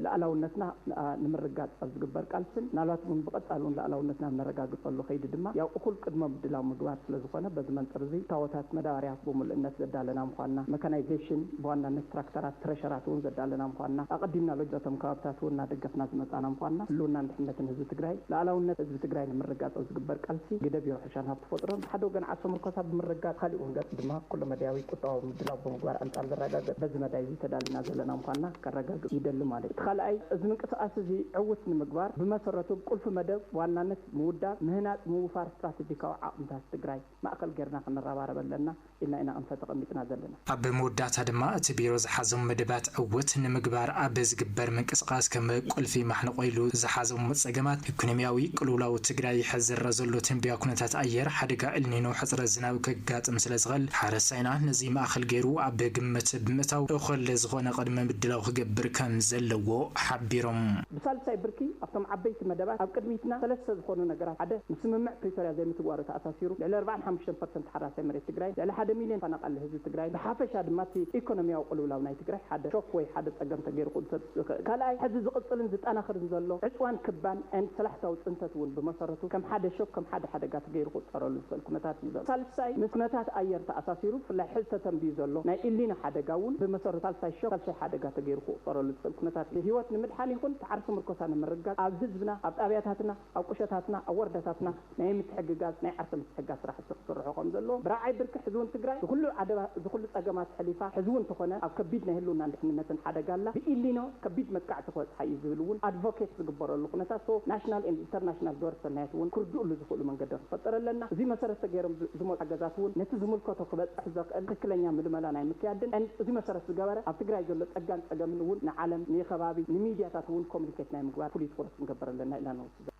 ልኣላውነትና ንኣ ንምርግጋጽ ኣብ ዝግበር ቃልስን ምናልባት እውን ብቐጻሊ እውን ልኣላውነትና ኣብ ነረጋግጸሉ ከይዲ ድማ ያው እኹል ቅድመ ምድላው ምግባር ስለ ዝኾነ በዚ መንጽር እዚ እታዎታት መዳባርያ ብምሉእነት ዘዳለና ምዃንና መካናይዜሽን ብዋናነት ትራክተራት ትረሸራት እውን ዘዳለና ምዃንና ኣቐዲምና ሎጃ እቶም ከባብታት እውን እናደገፍና ዝመጻእና ምዃንና ህልውናን ድሕነትን ህዝቢ ትግራይ ልኣላውነት ህዝቢ ትግራይ ንምርግጋጽ ኣብ ዝግበር ቃልሲ ግደ ዕሻን ሃብቲ ተፈጥሮን ብሓደ ወገን ዓርሰ ምርኮሳ ብምርግጋፅ ብኻሊእ ወንገፅ ድማ ኩለ መዳያዊ ቁጠባዊ ምድላው ብምግባር ኣንፃር ዝረጋገፅ በዚ መዳይ እዚ ተዳሊና ዘለና ምዃንና ከረጋግፅ ይደሊ ማለት እዩ። እቲ ኻልኣይ እዚ ምንቅስቓስ እዚ ዕውት ንምግባር ብመሰረቱ ብ ቁልፊ መደብ ብዋናነት ምውዳብ፣ ምህናፅ፣ ምውፋር ስትራተጂካዊ ዓቕምታት ትግራይ ማእኸል ገይርና ክንረባረብ ኣለና። ኢልና ኢና ኣንፈት ተቐሚጥና ዘለና። ኣብ መወዳእታ ድማ እቲ ቢሮ ዝሓዞም መደባት ዕውት ንምግባር ኣብ ዝግበር ምንቅስቓስ ከም ቁልፊ ማሕንቖ ኢሉ ዝሓዞም ፀገማት ኢኮኖሚያዊ ቅልውላው ትግራይ ሕዚ ዝረኣ ዘሎ ትንበያ ኩነታት ኣየር ሓደጋ ኤልኒኖ ሕፅረት ዝናብ ከጋጥም ስለዝኽእል ሓረስታይና ነዚ ማእኸል ገይሩ ኣብ ግምት ብምእታው እኹል ዝኾነ ቅድመ ምድላው ክገብር ከምዘለዎ ሓቢሮም። ብሳልሳይ ብርኪ ኣብቶም ዓበይቲ መደባት ኣብ ቅድሚትና ሰለስተ ዝኾኑ ነገራት ሓደ ምስ ስምምዕ ፕሪቶርያ ዘይምትግባሩ ተኣሳሲሩ ልዕሊ ኣርብዓን ሓሙሽተን ፐርሰንት ምንቅስቃሴ መሬት ትግራይ ልዕሊ ሓደ ሚልዮን ተፈናቃሊ ህዝቢ ትግራይ ብሓፈሻ ድማ እቲ ኢኮኖሚያዊ ቅልውላው ናይ ትግራይ ሓደ ሾክ ወይ ሓደ ፀገም ተገይሩ ክውሰድ ዝኽእል ካልኣይ ሕዚ ዝቅፅልን ዝጠናኽርን ዘሎ ዕፅዋን ክባን and ሰላሕታዊ ፅንተት እውን ብመሰረቱ ከም ሓደ ሾክ ከም ሓደ ሓደጋ ተገይሩ ክቁፀረሉ ዝኽእል ኩነታት እዩ ዘሎ ሳልሳይ ምስ ኩነታት ኣየር ተኣሳሲሩ ብፍላይ ሕዚ ተተንብዩ ዘሎ ናይ ኢሊኖ ሓደጋ እውን ብመሰረቱ ሳልሳይ ሾክ ሳልሳይ ሓደጋ ተገይሩ ክቁፀረሉ ዝኽእል ኩነታት እዩ ህይወት ንምድሓን ይኹን እቲ ዓርሰ ምርኮሳ ንምርግጋፅ ኣብ ህዝብና ኣብ ጣብያታትና ኣብ ቁሸታትና ኣብ ወረዳታትና ናይ ምትሕግጋዝ ናይ ዓርሰ ምትሕግጋዝ ስራሕቲ ክስርሑ ከምዘለዎም ብራዕይ ብርኪ ሕዚ ውን ትግራይ ዝኹሉ ኣደባ ዝኹሉ ፀገማት ሕሊፋ ሕዚ ውን ተኾነ ኣብ ከቢድ ናይ ህልውናን ድሕንነትን ሓደጋ ኣላ ብኢሊኖ ከቢድ መጥቃዕቲ ክበፅሓ እዩ ዝብል ውን ኣድቮኬት ዝግበረሉ ኩነታት so ናሽናል and ኢንተርናሽናል ግበረ ሰናያት ውን ክርድኡሉ ዝኽእሉ መንገዲ ክንፈጥር ኣለና እዙይ መሰረት ተገይሮም ዝመፁ ሓገዛት ውን ነቲ ዝምልከቶ ክበፅሕ ዘኽእል ትክክለኛ ምልመላ ናይ ምክያድን and እዙይ መሰረት ዝገበረ ኣብ ትግራይ ዘሎ ፀጋን ፀገምን ውን ንዓለም ንከባቢ ንሚድያታት ውን ኮሙኒኬት ናይ ምግባር ፍሉይ ትኹረት ክንገብር ኣለና ኢልና ንወስድ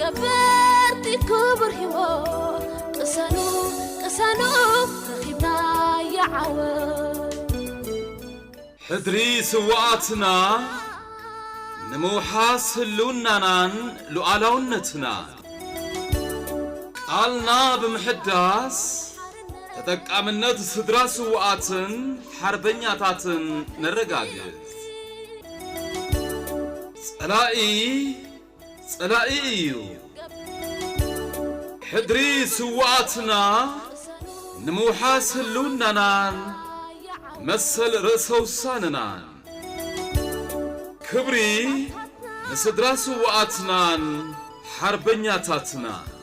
ገበርቲ ክቡር ሂወት ቅሰኑ ቅሰኑ ረኺብናዮ ዓወት ሕድሪ ስውኣትና ንምውሓስ ህልውናናን ሉኣላውነትናን ቃልና ብምሕዳስ ተጠቃምነት ስድራ ስውኣትን ሓርበኛታትን ነረጋግፅ። ጸላኢ ጸላኢ እዩ ሕድሪ ስውኣትና ንምውሓስ ህልውናናን መሰል ርእሰ ውሳነናን ክብሪ ንስድራ ስውኣትናን ሓርበኛታትና።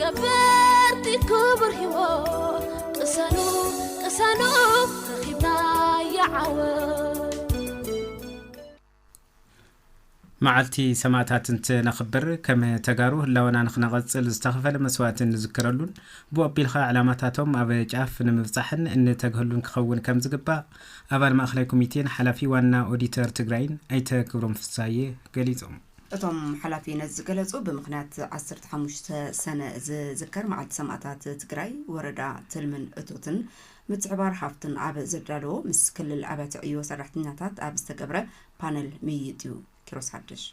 ገበርቲ ክቡር ሂወት ቅሰኑ ቅሰኑ ረኺብናያ ዓወት። መዓልቲ ሰማእታት እንትነኽብር ከም ተጋሩ ህላወና ንክነቐፅል ዝተኸፈለ መስዋእቲ እንዝክረሉን ብኡ ኣቢልኻ ዕላማታቶም ኣብ ጫፍ ንምብፃሕን እንተግህሉን ክኸውን ከም ዝግባእ ኣባል ማእኸላይ ኮሚቴን ሓላፊ ዋና ኦዲተር ትግራይን ኣይተ ክብሮም ፍስሃየ ገሊፆም። እቶም ሓላፊ ነዚ ዝገለፁ ብምኽንያት ዓሰርተ ሓሙሽተ ሰነ ዝዝከር መዓልቲ ሰማእታት ትግራይ ወረዳ ትልምን እቶትን ምትሕብባር ሃፍትን ኣብ ዘዳለዎ ምስ ክልል ኣብያተ ዕዮ ሰራሕተኛታት ኣብ ዝተገብረ ፓነል ምይይጥ እዩ። ኪሮስ ሓድሽ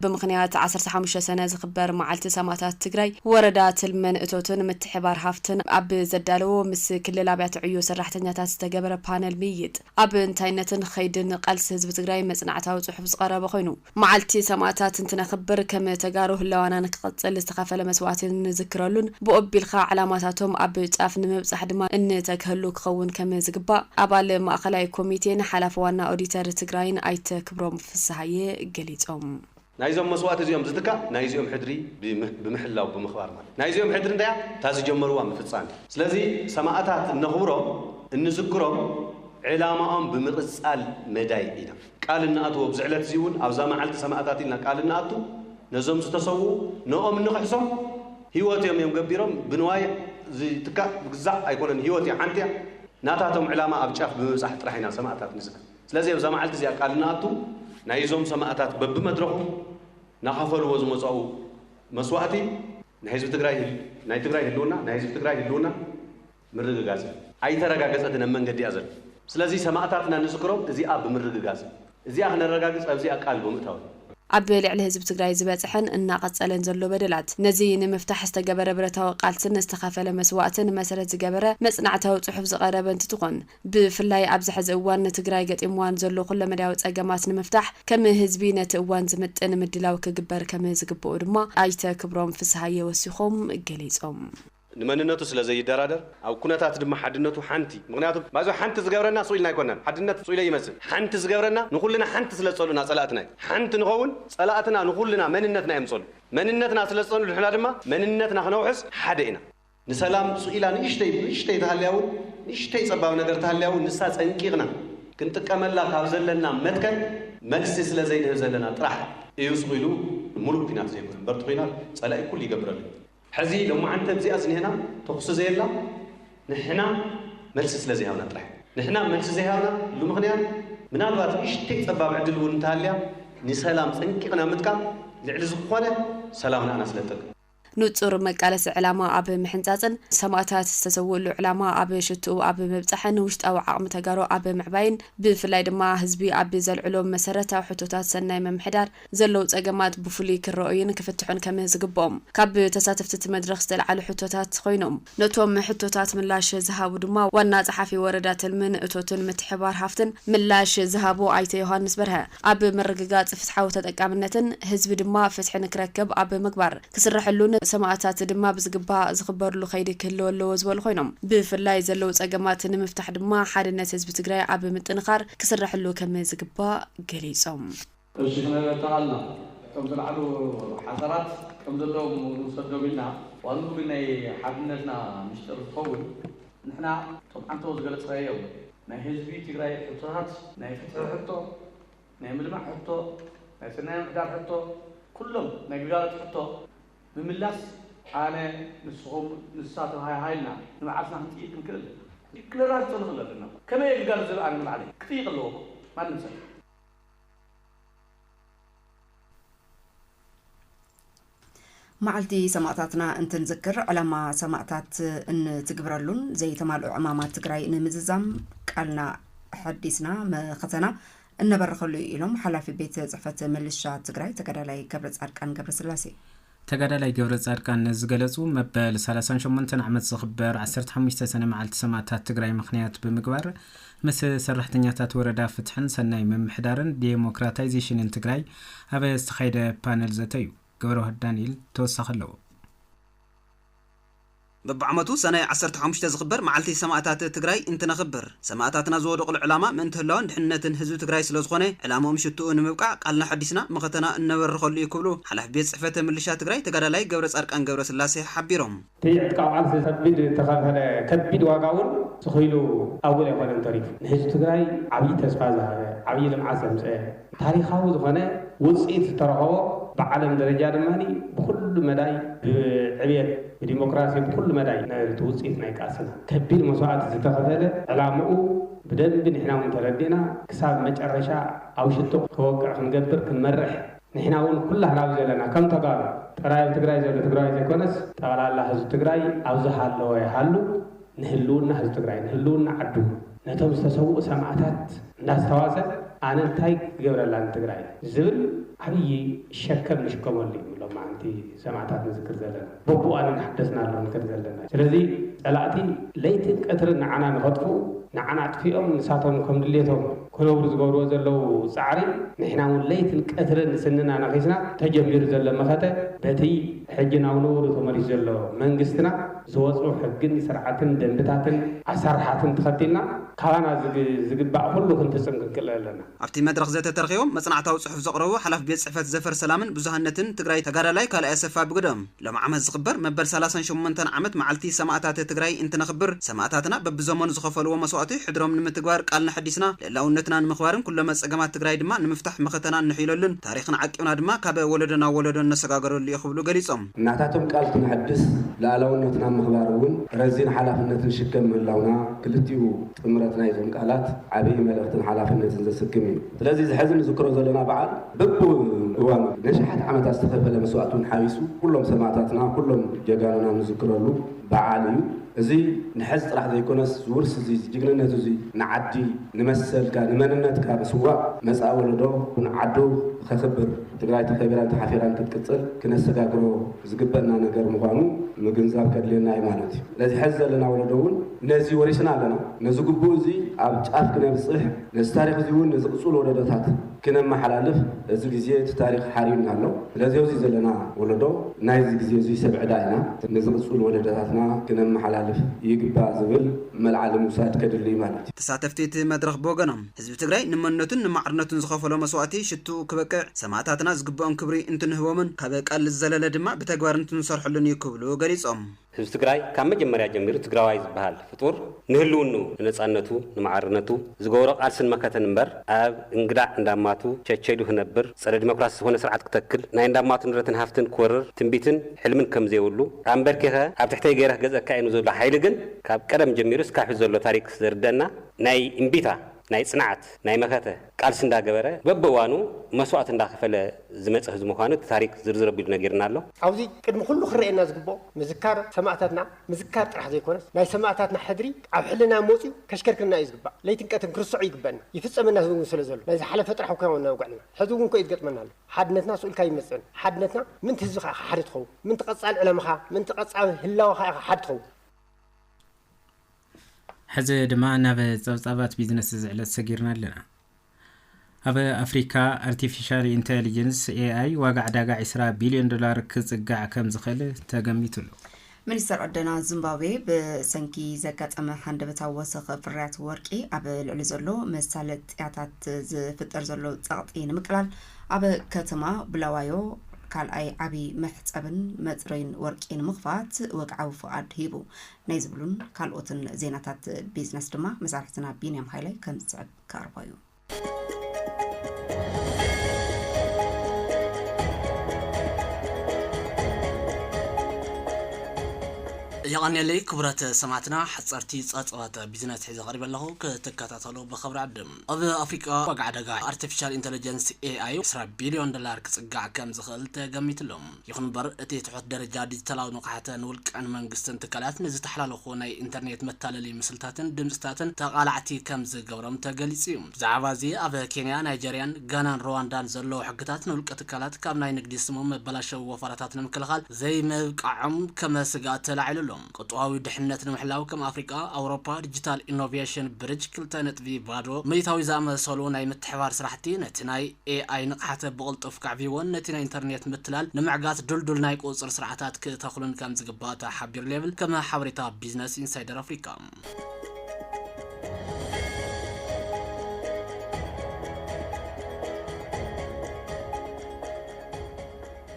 ብምኽንያት ዓሰርተ ሓሙሽተ ሰነ ዝኽበር መዓልቲ ሰማእታት ትግራይ ወረዳ ትልምን እቶትን ምትሕብባር ሃፍትን ኣብ ዘዳለዎ ምስ ክልል ኣብያተ ዕዮ ሰራሕተኛታት ዝተገበረ ፓነል ምይይጥ ኣብ እንታይነትን ኸይድን ቓልሲ ህዝቢ ትግራይ መፅናዕታዊ ፅሑፍ ዝቐረበ ኾይኑ፣ መዓልቲ ሰማእታት እንትነኽብር ከም ተጋሩ ህላወና ንክቕፅል ዝተኸፈለ መስዋእቲ እንዝክረሉን ብኡ ኣቢልኻ ዕላማታቶም ኣብ ጫፍ ንምብፃሕ ድማ እንተግሀሉ ክኸውን ከም ዝግባእ ኣባል ማእኸላይ ኮሚቴን ሓላፊ ዋና ኦዲተር ትግራይን ኣይተ ክብሮም ፍስሃየ ገሊፆም። ናይዞም መስዋእቲ እዚኦም ዝትካእ ናይዚኦም ሕድሪ ብምሕላው ብምኽባር ማለት ናይዚኦም ሕድሪ እንታይ እያ እታ ዝጀመርዋ ምፍፃም እዩ ስለዚ ሰማእታት እነኽብሮም እንዝክሮም ዕላማኦም ብምቕፃል መዳይ ኢና ቃል እንኣትዎ ብዚ ዕለት እዚ እውን ኣብዛ መዓልቲ ሰማእታት ኢልና ቃል እንኣቱ ነዞም ዝተሰውኡ ንኦም እንኽሕሶም ህይወት እዮም እዮም ገቢሮም ብንዋይ ዝትካእ ብግዛዕ ኣይኮነን ህይወት እያ ሓንቲ እያ ናታቶም ዕላማ ኣብ ጫፍ ብምብፃሕ ጥራሕ ኢና ሰማእታት ንዝክር። ስለዚ ኣብዛ መዓልቲ እዚኣ ቃል እንኣቱ ናይ እዞም ሰማእታት በብመድረኹ ናኸፈልዎ ዝመጻኡ መስዋእቲ ናይ ህዝቢ ትግራይ ናይ ትግራይ ህልውና ናይ ህዝቢ ትግራይ ህልውና ምርግጋጽ እዩ። ኣይተረጋገጸትን ኣብ መንገዲ እያ ዘላ። ስለዚ ሰማእታትና ንዝክሮም እዚኣ ብምርግጋጽ እዚኣ ክነረጋግጽ ኣብዚኣ ቃል ብምእታው እዩ። ኣብ ልዕሊ ህዝቢ ትግራይ ዝበጽሐን እናቐጸለን ዘሎ በደላት ነዚ ንምፍታሕ ዝተገበረ ብረታዊ ቃልስን ዝተኸፈለ መስዋእትን መሰረት ዝገበረ መጽናዕታዊ ጽሑፍ ዝቐረበ እንትትኾን፣ ብፍላይ ኣብዚ ሐዚ እዋን ንትግራይ ገጢምዋ ንዘሎ ኩለመዳያዊ ፀገማት ንምፍታሕ ከም ህዝቢ ነቲ እዋን ዝምጥን ምድላው ክግበር ከም ዝግበኦ ድማ ኣይተ ክብሮም ፍስሃየ ወሲኾም ገሊፆም። ንመንነቱ ስለ ዘይደራደር ኣብ ኩነታት ድማ ሓድነቱ ሓንቲ ምኽንያቱ ባይዘወይ ሓንቲ ዝገብረና ሱቕ ኢልና ኣይኮናን ሓድነት ሱቕ ኢለይ ይመስል ሓንቲ ዝገብረና ንኹልና ሓንቲ ስለ ዝፀልኡና ፀላእትና እዮም ሓንቲ ንኸውን ፀላእትና ንኹልና መንነትና እዮም ዝፀልኡ መንነትና ስለ ዝፀልኡልና ድማ መንነትና ክነውሕስ ሓደ ኢና ንሰላም ሱእ ኢላ ንእሽተይ ንእሽተይ ተሃልያ ውን ንእሽተይ ጸባብ ነገር ተሃልያ ውን ንሳ ጸንቂቕና ክንጥቀመላ ካብ ዘለና መትከል መልሲ ስለ ዘይንህብ ዘለና ጥራሕ እዩ ሱቕ ኢሉ ንሙሉእ ኩናት ዘይኮነ እምበር እቲ ኩናት ጸላኢ ኩሉ ይገብረሉ እዩ። ሕዚ ሎማዓንቲ ኣብዚኣ ዝንሄና ተኹሲ ዘየላ ንሕና መልሲ ስለ ዘይሃብና ጥራሕ እዩ። ንሕና መልሲ ዘይሃብና ሉ ምኽንያት ምናልባት ንእሽተይ ጸባብ ዕድል ውን እንተሃልያ ንሰላም ጸንቂቕና ምጥቃም ልዕሊ ዝኾነ ሰላምና ኣና ስለ ትጠቅም። ንጹር መቃለሲ ዕላማ ኣብ ምሕንጻጽን፣ ሰማእታት ዝተሰውእሉ ዕላማ ኣብ ሽትኡ ኣብ ምብጻሕን፣ ውሽጣዊ ዓቕሚ ተጋሩ ኣብ ምዕባይን፣ ብፍላይ ድማ ህዝቢ ኣብ ዘልዕሎም መሰረታዊ ሕቶታት ሰናይ ምምሕዳር ዘለዉ ጸገማት ብፍሉይ ክረኡይን ክፍትሑን ከም ዝግብኦም ካብ ተሳተፍቲ'ቲ መድረኽ ዝተልዓሉ ሕቶታት ኮይኖም። ነቶም ሕቶታት ምላሽ ዝሃቡ ድማ ዋና ፀሓፊ ወረዳ ትልምን እቶትን ምትሕብባር ሃፍትን ምላሽ ዝሃቡ ኣይተ ዮሃንስ በርሀ ኣብ ምርግጋፅ ፍትሓዊ ተጠቃምነትን ህዝቢ ድማ ፍትሒ ንክረክብ ኣብ ምግባር ክስረሐሉን ሰማእታት ድማ ብዝግባእ ዝኽበርሉ ከይዲ ክህልው ኣለዎ ዝበሉ ኮይኖም ብፍላይ ዘለው ፀገማት ንምፍታሕ ድማ ሓድነት ህዝቢ ትግራይ ኣብ ምጥንኻር ክስረሐሉ ከምዝግባእ ገሊፆም። እሺ ክንረዳኣልና እቶም ዝለዓሉ ሓሳባት ከም ዘለዎም ንውሰዶም ኢልና ዋልኡ ግን ናይ ሓድነትና ሚስጥር ዝኸውን ንሕና እቶም ዓንተቦ ዝገለፅካዮም ናይ ህዝቢ ትግራይ ሕቶታት ናይ ፍትሒ ሕቶ ናይ ምልማዕ ሕቶ ናይ ሰናይ ምምሕዳር ሕቶ ኩሎም ናይ ግልጋሎት ሕቶ ምምላስ ኣነ ንስኹም ንሳ ተወሃሃይልና ንባዕልትና ክንጥይቅ ክንክእል ክንረዳድእ ንኽእል ኣለና ከመይ እየ ግልጋሎት ዝህብ ኣነ ንባዕለይ ክጥይቅ ኣለዎ እኮ ማንም ሰብ መዓልቲ ሰማእታትና እንትንዝክር ዕላማ ሰማእታት እንትግብረሉን ዘይተማልኦ ዕማማት ትግራይ ንምዝዛም ቃልና ሐዲስና መኸተና እነበረኸሉ እዩ ኢሎም ሓላፊ ቤት ፅሕፈት ምልሻ ትግራይ ተጋዳላይ ገብረ ፃድቃን ገብረስላሴ ተጋዳላይ ገብረፃድቃን ነዚ ዝገለፁ መበል ሰላሳን ሸሞንተን ዓመት ዝኽበር ዓሰርተ ሓሙሽተ ሰነ መዓልቲ ሰማእታት ትግራይ ምኽንያት ብምግባር ምስ ሰራሕተኛታት ወረዳ ፍትሕን ሰናይ ምምሕዳርን ዴሞክራታይዜሽንን ትግራይ ኣብ ዝተኻየደ ፓነል ዘተ እዩ። ገብረዋህድ ዳንኤል ተወሳኺ ኣለዎ። በብዓመቱ ሰነ ዓሰርተ ሓሙሽተ ዝኽበር መዓልቲ ሰማእታት ትግራይ እንትነኽብር ሰማእታትና ዝወደቑሉ ዕላማ ምእንቲ ህላወን ድሕንነትን ህዝቢ ትግራይ ስለዝኾነ ዕላምኦም ሽትኡ ንምብቃዕ ቃልና ሓዲስና መኸተና እነበርኸሉ እዩ ክብሉ ሓላፊ ቤት ፅሕፈት ምልሻ ትግራይ ተጋዳላይ ገብረፃድቃን ገብረስላሴ ሓቢሮም። እቲ ዕጥቃዊ ቃልሲ ከቢድ እንተኸፈለ ከቢድ ዋጋ እውን ትኺሉ ኣውል ኣይኮነን ተሪፉ። ንህዝቢ ትግራይ ዓብዪ ተስፋ ዝሃበ፣ ዓብዪ ልምዓት ዘምፀኤ፣ ታሪኻዊ ዝኾነ ውፅኢት ዝተረኸቦ ብዓለም ደረጃ ድማ ብኹሉ መዳይ ብዕብየት ብዲሞክራሲ ብኹሉ መዳይ ናይ'ቲ ውፅኢት ናይ ቃልስና ከቢድ መስዋእቲ ዝተኸፈለ ዕላምኡ ብደንቢ ንሕና እውን ተረዲእና ክሳብ መጨረሻ ኣብ ሽቶ ክወቅዕ ክንገብር ክንመርሕ ንሕና እውን ኩላህና ኣብ ዘለና ከም ተጋሩ ጥራይ ኣብ ትግራይ ዘሎ ትግራዋይ ዘይኮነስ ጠቕላላ ህዝቢ ትግራይ ኣብ ዝሃለወ ይሃሉ ንህልውና ህዝቢ ትግራይ ንህልውና ዓዱ ነቶም ዝተሰውኡ ሰማእታት እንዳስታዋሰ ኣነ እንታይ ክገብረላ ንትግራይ ዝብል ዓብዪ ሸከም ንሽከመሉ እዩ ሎማዓንቲ ሰማእታት ንዝክር ዘለና በብእዋኑ እናሓደስና ኣሎ ንከድ ዘለና ስለዚ ፀላእቲ ለይትን ቀትርን ንዓና ንኸጥፍኡ ንዓና ኣጥፊኦም ንሳቶም ከም ድሌቶም ክነብሩ ዝገብርዎ ዘለዉ ፃዕሪ ንሕና እውን ለይትን ቀትርን ስንና ነኺስና ተጀሚሩ ዘሎ መኸተ በቲ ሕጂ ናብ ንቡሩ ተመሊሱ ዘሎ መንግስትና ዝወጹ ሕግን ስርዓትን ደንብታትን ኣሳርሓትን ተኸቲልና ካባና ዝግባእ ኩሉ ክንፍጽምክንክእል ኣለና። ኣብቲ መድረኽ ዘተ ተረኺቦም መጽናዕታዊ ጽሑፍ ዘቕረቡ ሓላፊ ቤት ጽሕፈት ዘፈር ሰላምን ብዙሃነትን ትግራይ ተጋዳላይ ካልኣይ ኣሰፋ ብግደኦም፣ ሎሚ ዓመት ዝኽበር መበል ሰላሳን ሸሞንተን ዓመት መዓልቲ ሰማእታት ትግራይ እንትነኽብር ሰማእታትና በብዘመኑ ዝኸፈልዎ መስዋእቲ ሕድሮም ንምትግባር ቃልና ኣሐዲስና ልእላውነትና ንምኽባርን ኩሎመ ፀገማት ትግራይ ድማ ንምፍታሕ መኸተና እነሕይለሉን ታሪኽና ዓቂብና ድማ ካብ ወለዶ ናብ ወለዶ እነሰጋገረሉ እዩ ክብሉ ገሊፆም። ናታቶም ቃል ክነሐድስ ልኣላውነትና ኣብ ምኽባር እውን ረዚን ሓላፍነት ንሽከም ምህላውና ክልቲኡ ጥምረት ናይዞም ቃላት ዓብይ መልእኽትን ሓላፍነትን ዘስክም እዩ። ስለዚ እዚ ሐዚ ንዝክሮ ዘለና በዓል በብእዋኑ ነሽሓት ዓመታት ዝተኸፈለ መስዋእቲ እውን ሓዊሱ ኩሎም ሰማእታትና ኩሎም ጀጋኑና ንዝክረሉ በዓል እዩ። እዚ ንሐዚ ጥራሕ ዘይኮነስ ዝውርስ እዙይ ዝጅግንነት እዙይ ንዓዲ ንመሰልካ ንመንነትካ ምስዋእ መፃኢ ወለዶ እውን ዓዱ ኸኽብር፣ ትግራይ ተኸቢራን ተሓፊራን ክትቅፅል ክነሰጋግሮ ዝግበእና ነገር ምዃኑ ምግንዛብ ከድልየና እዩ ማለት እዩ። ነዚ ሐዚ ዘለና ወለዶ እውን ነዚ ወሪስና ኣለና። ነዚ ግቡእ እዚ ኣብ ጫፍ ክነብፅሕ፣ ነዚ ታሪኽ እዚ እውን ንዝቕፅሉ ወለዶታት ክነመሓላልፍ እዚ ግዜ እቲ ታሪኽ ሓርዩና ኣሎ። ስለዚ ኣብዚ ዘለና ወለዶ ናይዚ ግዜ እዙይ ሰብ ዕዳ ኢና። ንዝቕፅሉ ወለዶታትና ክነመሓላልፍ ይግባእ ዝብል መልዓሊ ምውሳድ ከድሊ እዩ ማለት እዩ። ተሳተፍቲ እቲ መድረኽ ብወገኖም ህዝቢ ትግራይ ንመንነቱን ንማዕርነቱን ዝኸፈሎ መስዋእቲ ሽትኡ ክበቅዕ ሰማእታትና ዝግበኦም ክብሪ እንትንህቦምን ካብ ቃል ዝዘለለ ድማ ብተግባር እንትንሰርሐሉን እዩ ክብሉ ገሊፆም። ህዝቢ ትግራይ ካብ መጀመርያ ጀሚሩ ትግራዋይ ዝበሃል ፍጡር ንህልውንኡ፣ ንነፃነቱ፣ ንማዕርነቱ ዝገበሮ ቃልስን መከተን እምበር ኣብ እንግዳ እንዳማቱ ቸቸዱ ክነብር፣ ፀረ ዲሞክራሲ ዝኾነ ስርዓት ክተክል፣ ናይ እንዳማቱ ንብረትን ሃፍትን ክወርር ትንቢትን ሕልምን ከምዘይብሉ ኣምበርኪኸ ኣብ ትሕተይ ገይረ ክገዝእካ እየ ንዝብሎ ሓይሊ ግን ካብ ቀደም ጀሚሩ እስካብ ሕዚ ዘሎ ታሪክ ዘርደእና ናይ እምቢታ፣ ናይ ጽንዓት፣ ናይ መኸተ ቃልሲ እንዳገበረ በብእዋኑ መስዋእቲ እንዳኸፈለ ዝመጸ ህዝቢ ምዃኑ እቲ ታሪኽ ዝርዝር ኣቢሉ ነጊሩና ኣሎ። ኣብዚ ቅድሚ ኩሉ ክረኣየና ዝግበኦ ምዝካር ሰማእታትና ምዝካር ጥራሕ ዘይኮነስ ናይ ሰማእታትና ሕድሪ ኣብ ሕልናና መጽዩ ከሽከርክረና እዩ ዝግባእ። ለይትን ቀትርን ክንርሰዖ ይግበእና። ይፍጸመና እውን ስለ ዘሎ። ናይ ዝሓለፈ ጥራሕ እኮ ኢና ውግዕና። ሕዚ እውን ኮዩ ዝገጥመና ኣሎ። ሓድነትና ስእልካ ኣይመጽእን። ሓድነትና ምእንቲ ህዝብኻ ኢኻ ሓዲ ትኸውን። ምእንቲ ቀጻሊ ዕላማኻ፣ ምእንቲ ቀጻሊ ህላወኻ ኢኻ ሓዲ ትኸውን። ሕዚ ድማ ናብ ጸብጻባት ቢዝነስ እዚ ዕለት ሰጊርና ኣለና። ኣብ ኣፍሪካ ኣርቲፊሻል ኢንተሊጀንስ፣ ኤኣይ፣ ዋጋ ዕዳጋ ዕስራ ቢልዮን ዶላር ክጽጋዕ ከም ዝኽእል ተገሚቱ ኣሎ። ሚኒስተር ዕደና ዚምባብዌ ብሰንኪ ዘጋጠመ ሃንደበታዊ ወሰኽ ፍርያት ወርቂ ኣብ ልዕሊ ዘሎ መሳለጥያታት ዝፍጠር ዘሎ ጸቕጢ ንምቅላል ኣብ ከተማ ቡላዋዮ ካልኣይ ዓብዪ መሕጸብን መጽረዩን ወርቂ ንምኽፋት ወግዓዊ ፍቓድ ሂቡ። ናይ ዝብሉን ካልኦትን ዜናታት ቢዝነስ ድማ መሳርሕትና ቢንያም ሃይላይ ከም ዝስዕብ ክቐርቦ እዩ የቐንየለይ ክቡራት ሰማዕትና ሓጸርቲ ጸብጸባት ቢዝነስ ሒዘ ቀሪበ ኣለኹ ክትከታተሉ ብኽብሪ ዕድም ኣብ ኣፍሪቃ ዋጋ ዕደጋ ኣርቲፊሻል ኢንተለጀንስ ኤኣይ 20 ቢልዮን ዶላር ክጽጋዕ ከም ዝኽእል ተገሚትሎም ይኹን'ምበር፣ እቲ ትሑት ደረጃ ዲጂታላዊ ንቕሓተ ንውልቀን መንግስትን ትካላት ንዝተሓላለኹ ናይ ኢንተርኔት መታለሊ ምስልታትን ድምጺታትን ተቓላዕቲ ከም ዝገብሮም ተገሊጹ'ዩ። ብዛዕባ'ዚ ኣብ ኬንያ፣ ናይጀርያን፣ ጋናን ሩዋንዳን ዘለዉ ሕግታት ንውልቀ ትካላት ካብ ናይ ንግዲ ስሞም መበላሸዊ ወፈራታት ንምክልኻል ዘይምብቃዖም ከም ስግኣት ተላዒሉ ኣሎ። ቅጥዋዊ ድሕነት ንምሕላው ከም ኣፍሪቃ፣ ኣውሮፓ ዲጂታል ኢኖቬሽን ብርጅ ክልተ ነጥቢ ባዶ ምእታዊ ዝኣመሰሉ ናይ ምትሕብባር ስራሕቲ ነቲ ናይ AI ንቕሓተ ብቕልጡፍ ከዕብይዎን ነቲ ናይ ኢንተርኔት ምትላል ንምዕጋት ድልዱል ናይ ቁፅፅር ስርዓታት ክተኽሉን ከም ዝግባእ ተሓቢሩ ል ይብል ከም ሓበሬታ ቢዝነስ ኢንሳይደር ኣፍሪቃ።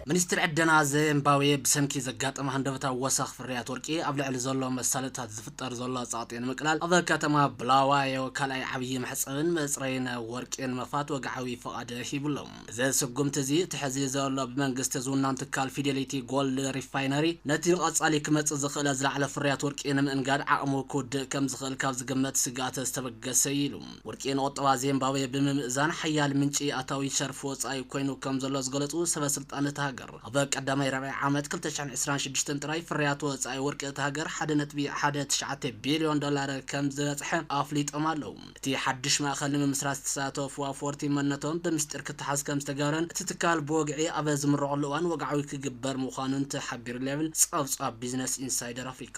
ሚኒስትሪ ዕደና ዚምባብዌ ብሰንኪ ዘጋጠመ ሃንደበታዊ ወሰኽ ፍርያት ወርቂ ኣብ ልዕሊ ዘሎ መሳለጥታት ዝፍጠር ዘሎ ጸቕጢ ንምቅላል ኣብ ከተማ ብላዋዮ ካልኣይ ዓብዪ መሕጸብን መጽረይን ወርቂ ንምኽፋት ወግዓዊ ፍቓድ ሂቡ ኣሎ። እዚ ስጉምቲ እዚ እቲ ሕዚ ዘሎ ብመንግስቲ ዝውናን ትካል ፊደሊቲ ጎልድ ሪፋይነሪ ነቲ ብቐጻሊ ክመጽእ ዝኽእለ ዝለዓለ ፍርያት ወርቂ ንምእንጋድ ዓቕሙ ክውድእ ከም ዝኽእል ካብ ዝግመት ስግኣት ዝተበገሰ'ዩ ኢሉ። ወርቂ ንቁጠባ ዜምባብዌ ብምምእዛን ሓያል ምንጪ ኣታዊ ሸርፊ ወጻኢ ኮይኑ ከም ዘሎ ዝገለጹ ሰበ ስልጣን እታ ሃገር፣ ኣብ ቀዳማይ ርብዒ ዓመት ክልተ ሽሕን ዕስራን ሽዱሽተን ጥራይ ፍርያት ወጻኢ ወርቂ እታ ሃገር ሓደ ነጥቢ ሓደ ትሽዓተ ቢልዮን ዶላር ከም ዝበጽሐ ኣፍሊጦም ኣለዉ። እቲ ሓድሽ ማእከል ንምምስራት ዝተሳተፉ ኣፍወርቲ መንነቶም ብምስጢር ክተሓዝ ከም ዝተገብረን እቲ ትካል ብወግዒ ኣብ ዝምረቐሉ እዋን ወግዓዊ ክግበር ምዃኑን ተሓቢሩ'ሎ ይብል ጸብጻብ ቢዝነስ ኢንሳይደር ኣፍሪቃ።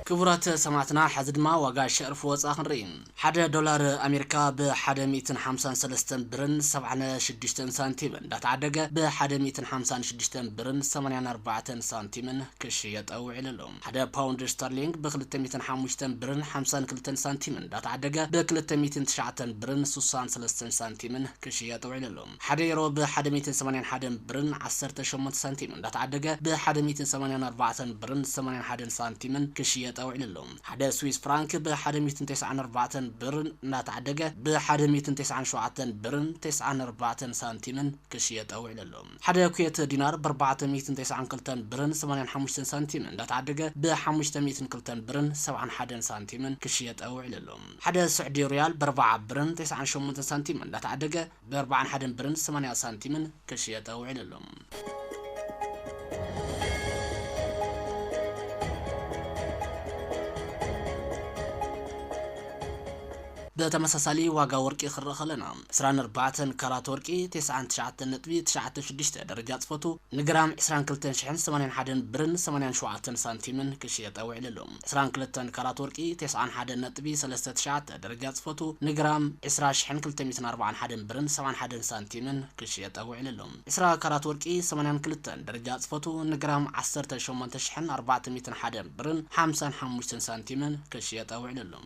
ክቡራት ሰማዕትና ሐዚ ድማ ዋጋ ሸርፍ ወፃ ክንርኢ ሐደ ዶላር ኣሜሪካ ብ ሐደ ሚእትን ሓምሳን ሰለስተን ብርን ሰብዓነ ሽዱሽተን ሳንቲምን እንዳተዓደገ ብ ሐደ ሚእትን ሓምሳን ሽዱሽተን ብርን ሰማንያን ኣርባዕተን ሳንቲምን ክሽየጠ ውዒሉ ኣሎ። ሓደ ፓውንድ ስተርሊንግ ብ ክልተ ሚእትን ሓሙሽተን ብርን ሓምሳን ክልተን ሳንቲምን እንዳተዓደገ ብ ክልተ ሚእትን ትሽዓተን ብርን ስሳን ሰለስተን ሳንቲምን ክሽየጥ ውዒሉ ኣሎ። ሓደ ዩሮ ብ ሓደ ሚእትን ሰማንያን ሓደን ብርን ዓሰርተ ሸሞንተ ሳንቲምን እንዳተዓደገ ብ ሓደ ሚእትን ሰማንያን ኣርባዕተን ብርን ሰማንያን ሓደን ሳንቲምን ክሽየጠ ውዒሉ ኣሎ። ሓደ ስዊስ ፍራንክ ብ ሓደ ሚእትን ተስዓን ኣርባዕተን ብርን እንዳተዓደገ ብ ሓደ ሚእትን ተስዓን ሸውዓተን ብርን ተስዓን ኣርባዕተን ሳንቲምን ክሽየጠ ውዒሉ ኣሎ። ሓደ ኩዌት ዲናር ብኣርባዕተ ሚእትን ተስዓን ክልተን ብርን ሰማንያን ሓሙሽተን ሳንቲምን እንዳተዓደገ ብሓሙሽተ ሚእትን ክልተን ብርን ሰብዓን ሓደን ሳንቲምን ክሽየጠ ውዒሉ ኣሎ። ሓደ ስዑዲ ርያል ብኣርባዓ ብርን ተስዓን ሸሞንተን ሳንቲምን እንዳተዓደገ ብኣርባዓን ሓደን ብርን ሰማንያ ሳንቲምን ክሽየጠ ውዒሉ ኣሎ። ብተመሳሳሊ ዋጋ ወርቂ ክንርኢ ከለና፣ ዕስራን ኣርባዕተን ካራት ወርቂ፣ ቴስዓን ትሽዓተን ነጥቢ ትሽዓተ ሽዱሽተ ደረጃ ጽፈቱ፣ ንግራም ዕስራን ክልተን ሽሕን ሰማንያን ሓደን ብርን ሰማንያን ሸውዓተን ሳንቲምን ክሽየጠ ውዒልሉ። ዕስራን ክልተን ካራት ወርቂ፣ ቴስዓን ሓደን ነጥቢ ሰለስተ ትሽዓተ ደረጃ ጽፈቱ፣ ንግራም ዕስራ ሽሕን ክልተ ሚእትን ኣርባዓን ሓደን ብርን ሰብዓን ሓደን ሳንቲምን ክሽየጠ ውዒልሉ። ዕስራ ካራት ወርቂ፣ ሰማንያን ክልተን ደረጃ ጽፈቱ፣ ንግራም ዓሰርተ ሸሞንተ ሽሕን ኣርባዕተ ሚእትን ሓደን ብርን ሓምሳን ሓሙሽተን ሳንቲምን ክሽየጠ ውዒልሉ።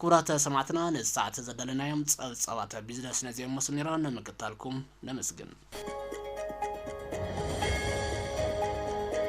ክቡራት ሰማዕትና ነዚ ሰዓት ዘዳለናዮም ጸብጻባት ቢዝነስ ነዚኦም መስሉ ነይሮም ንምክታልኩም ነመስግን።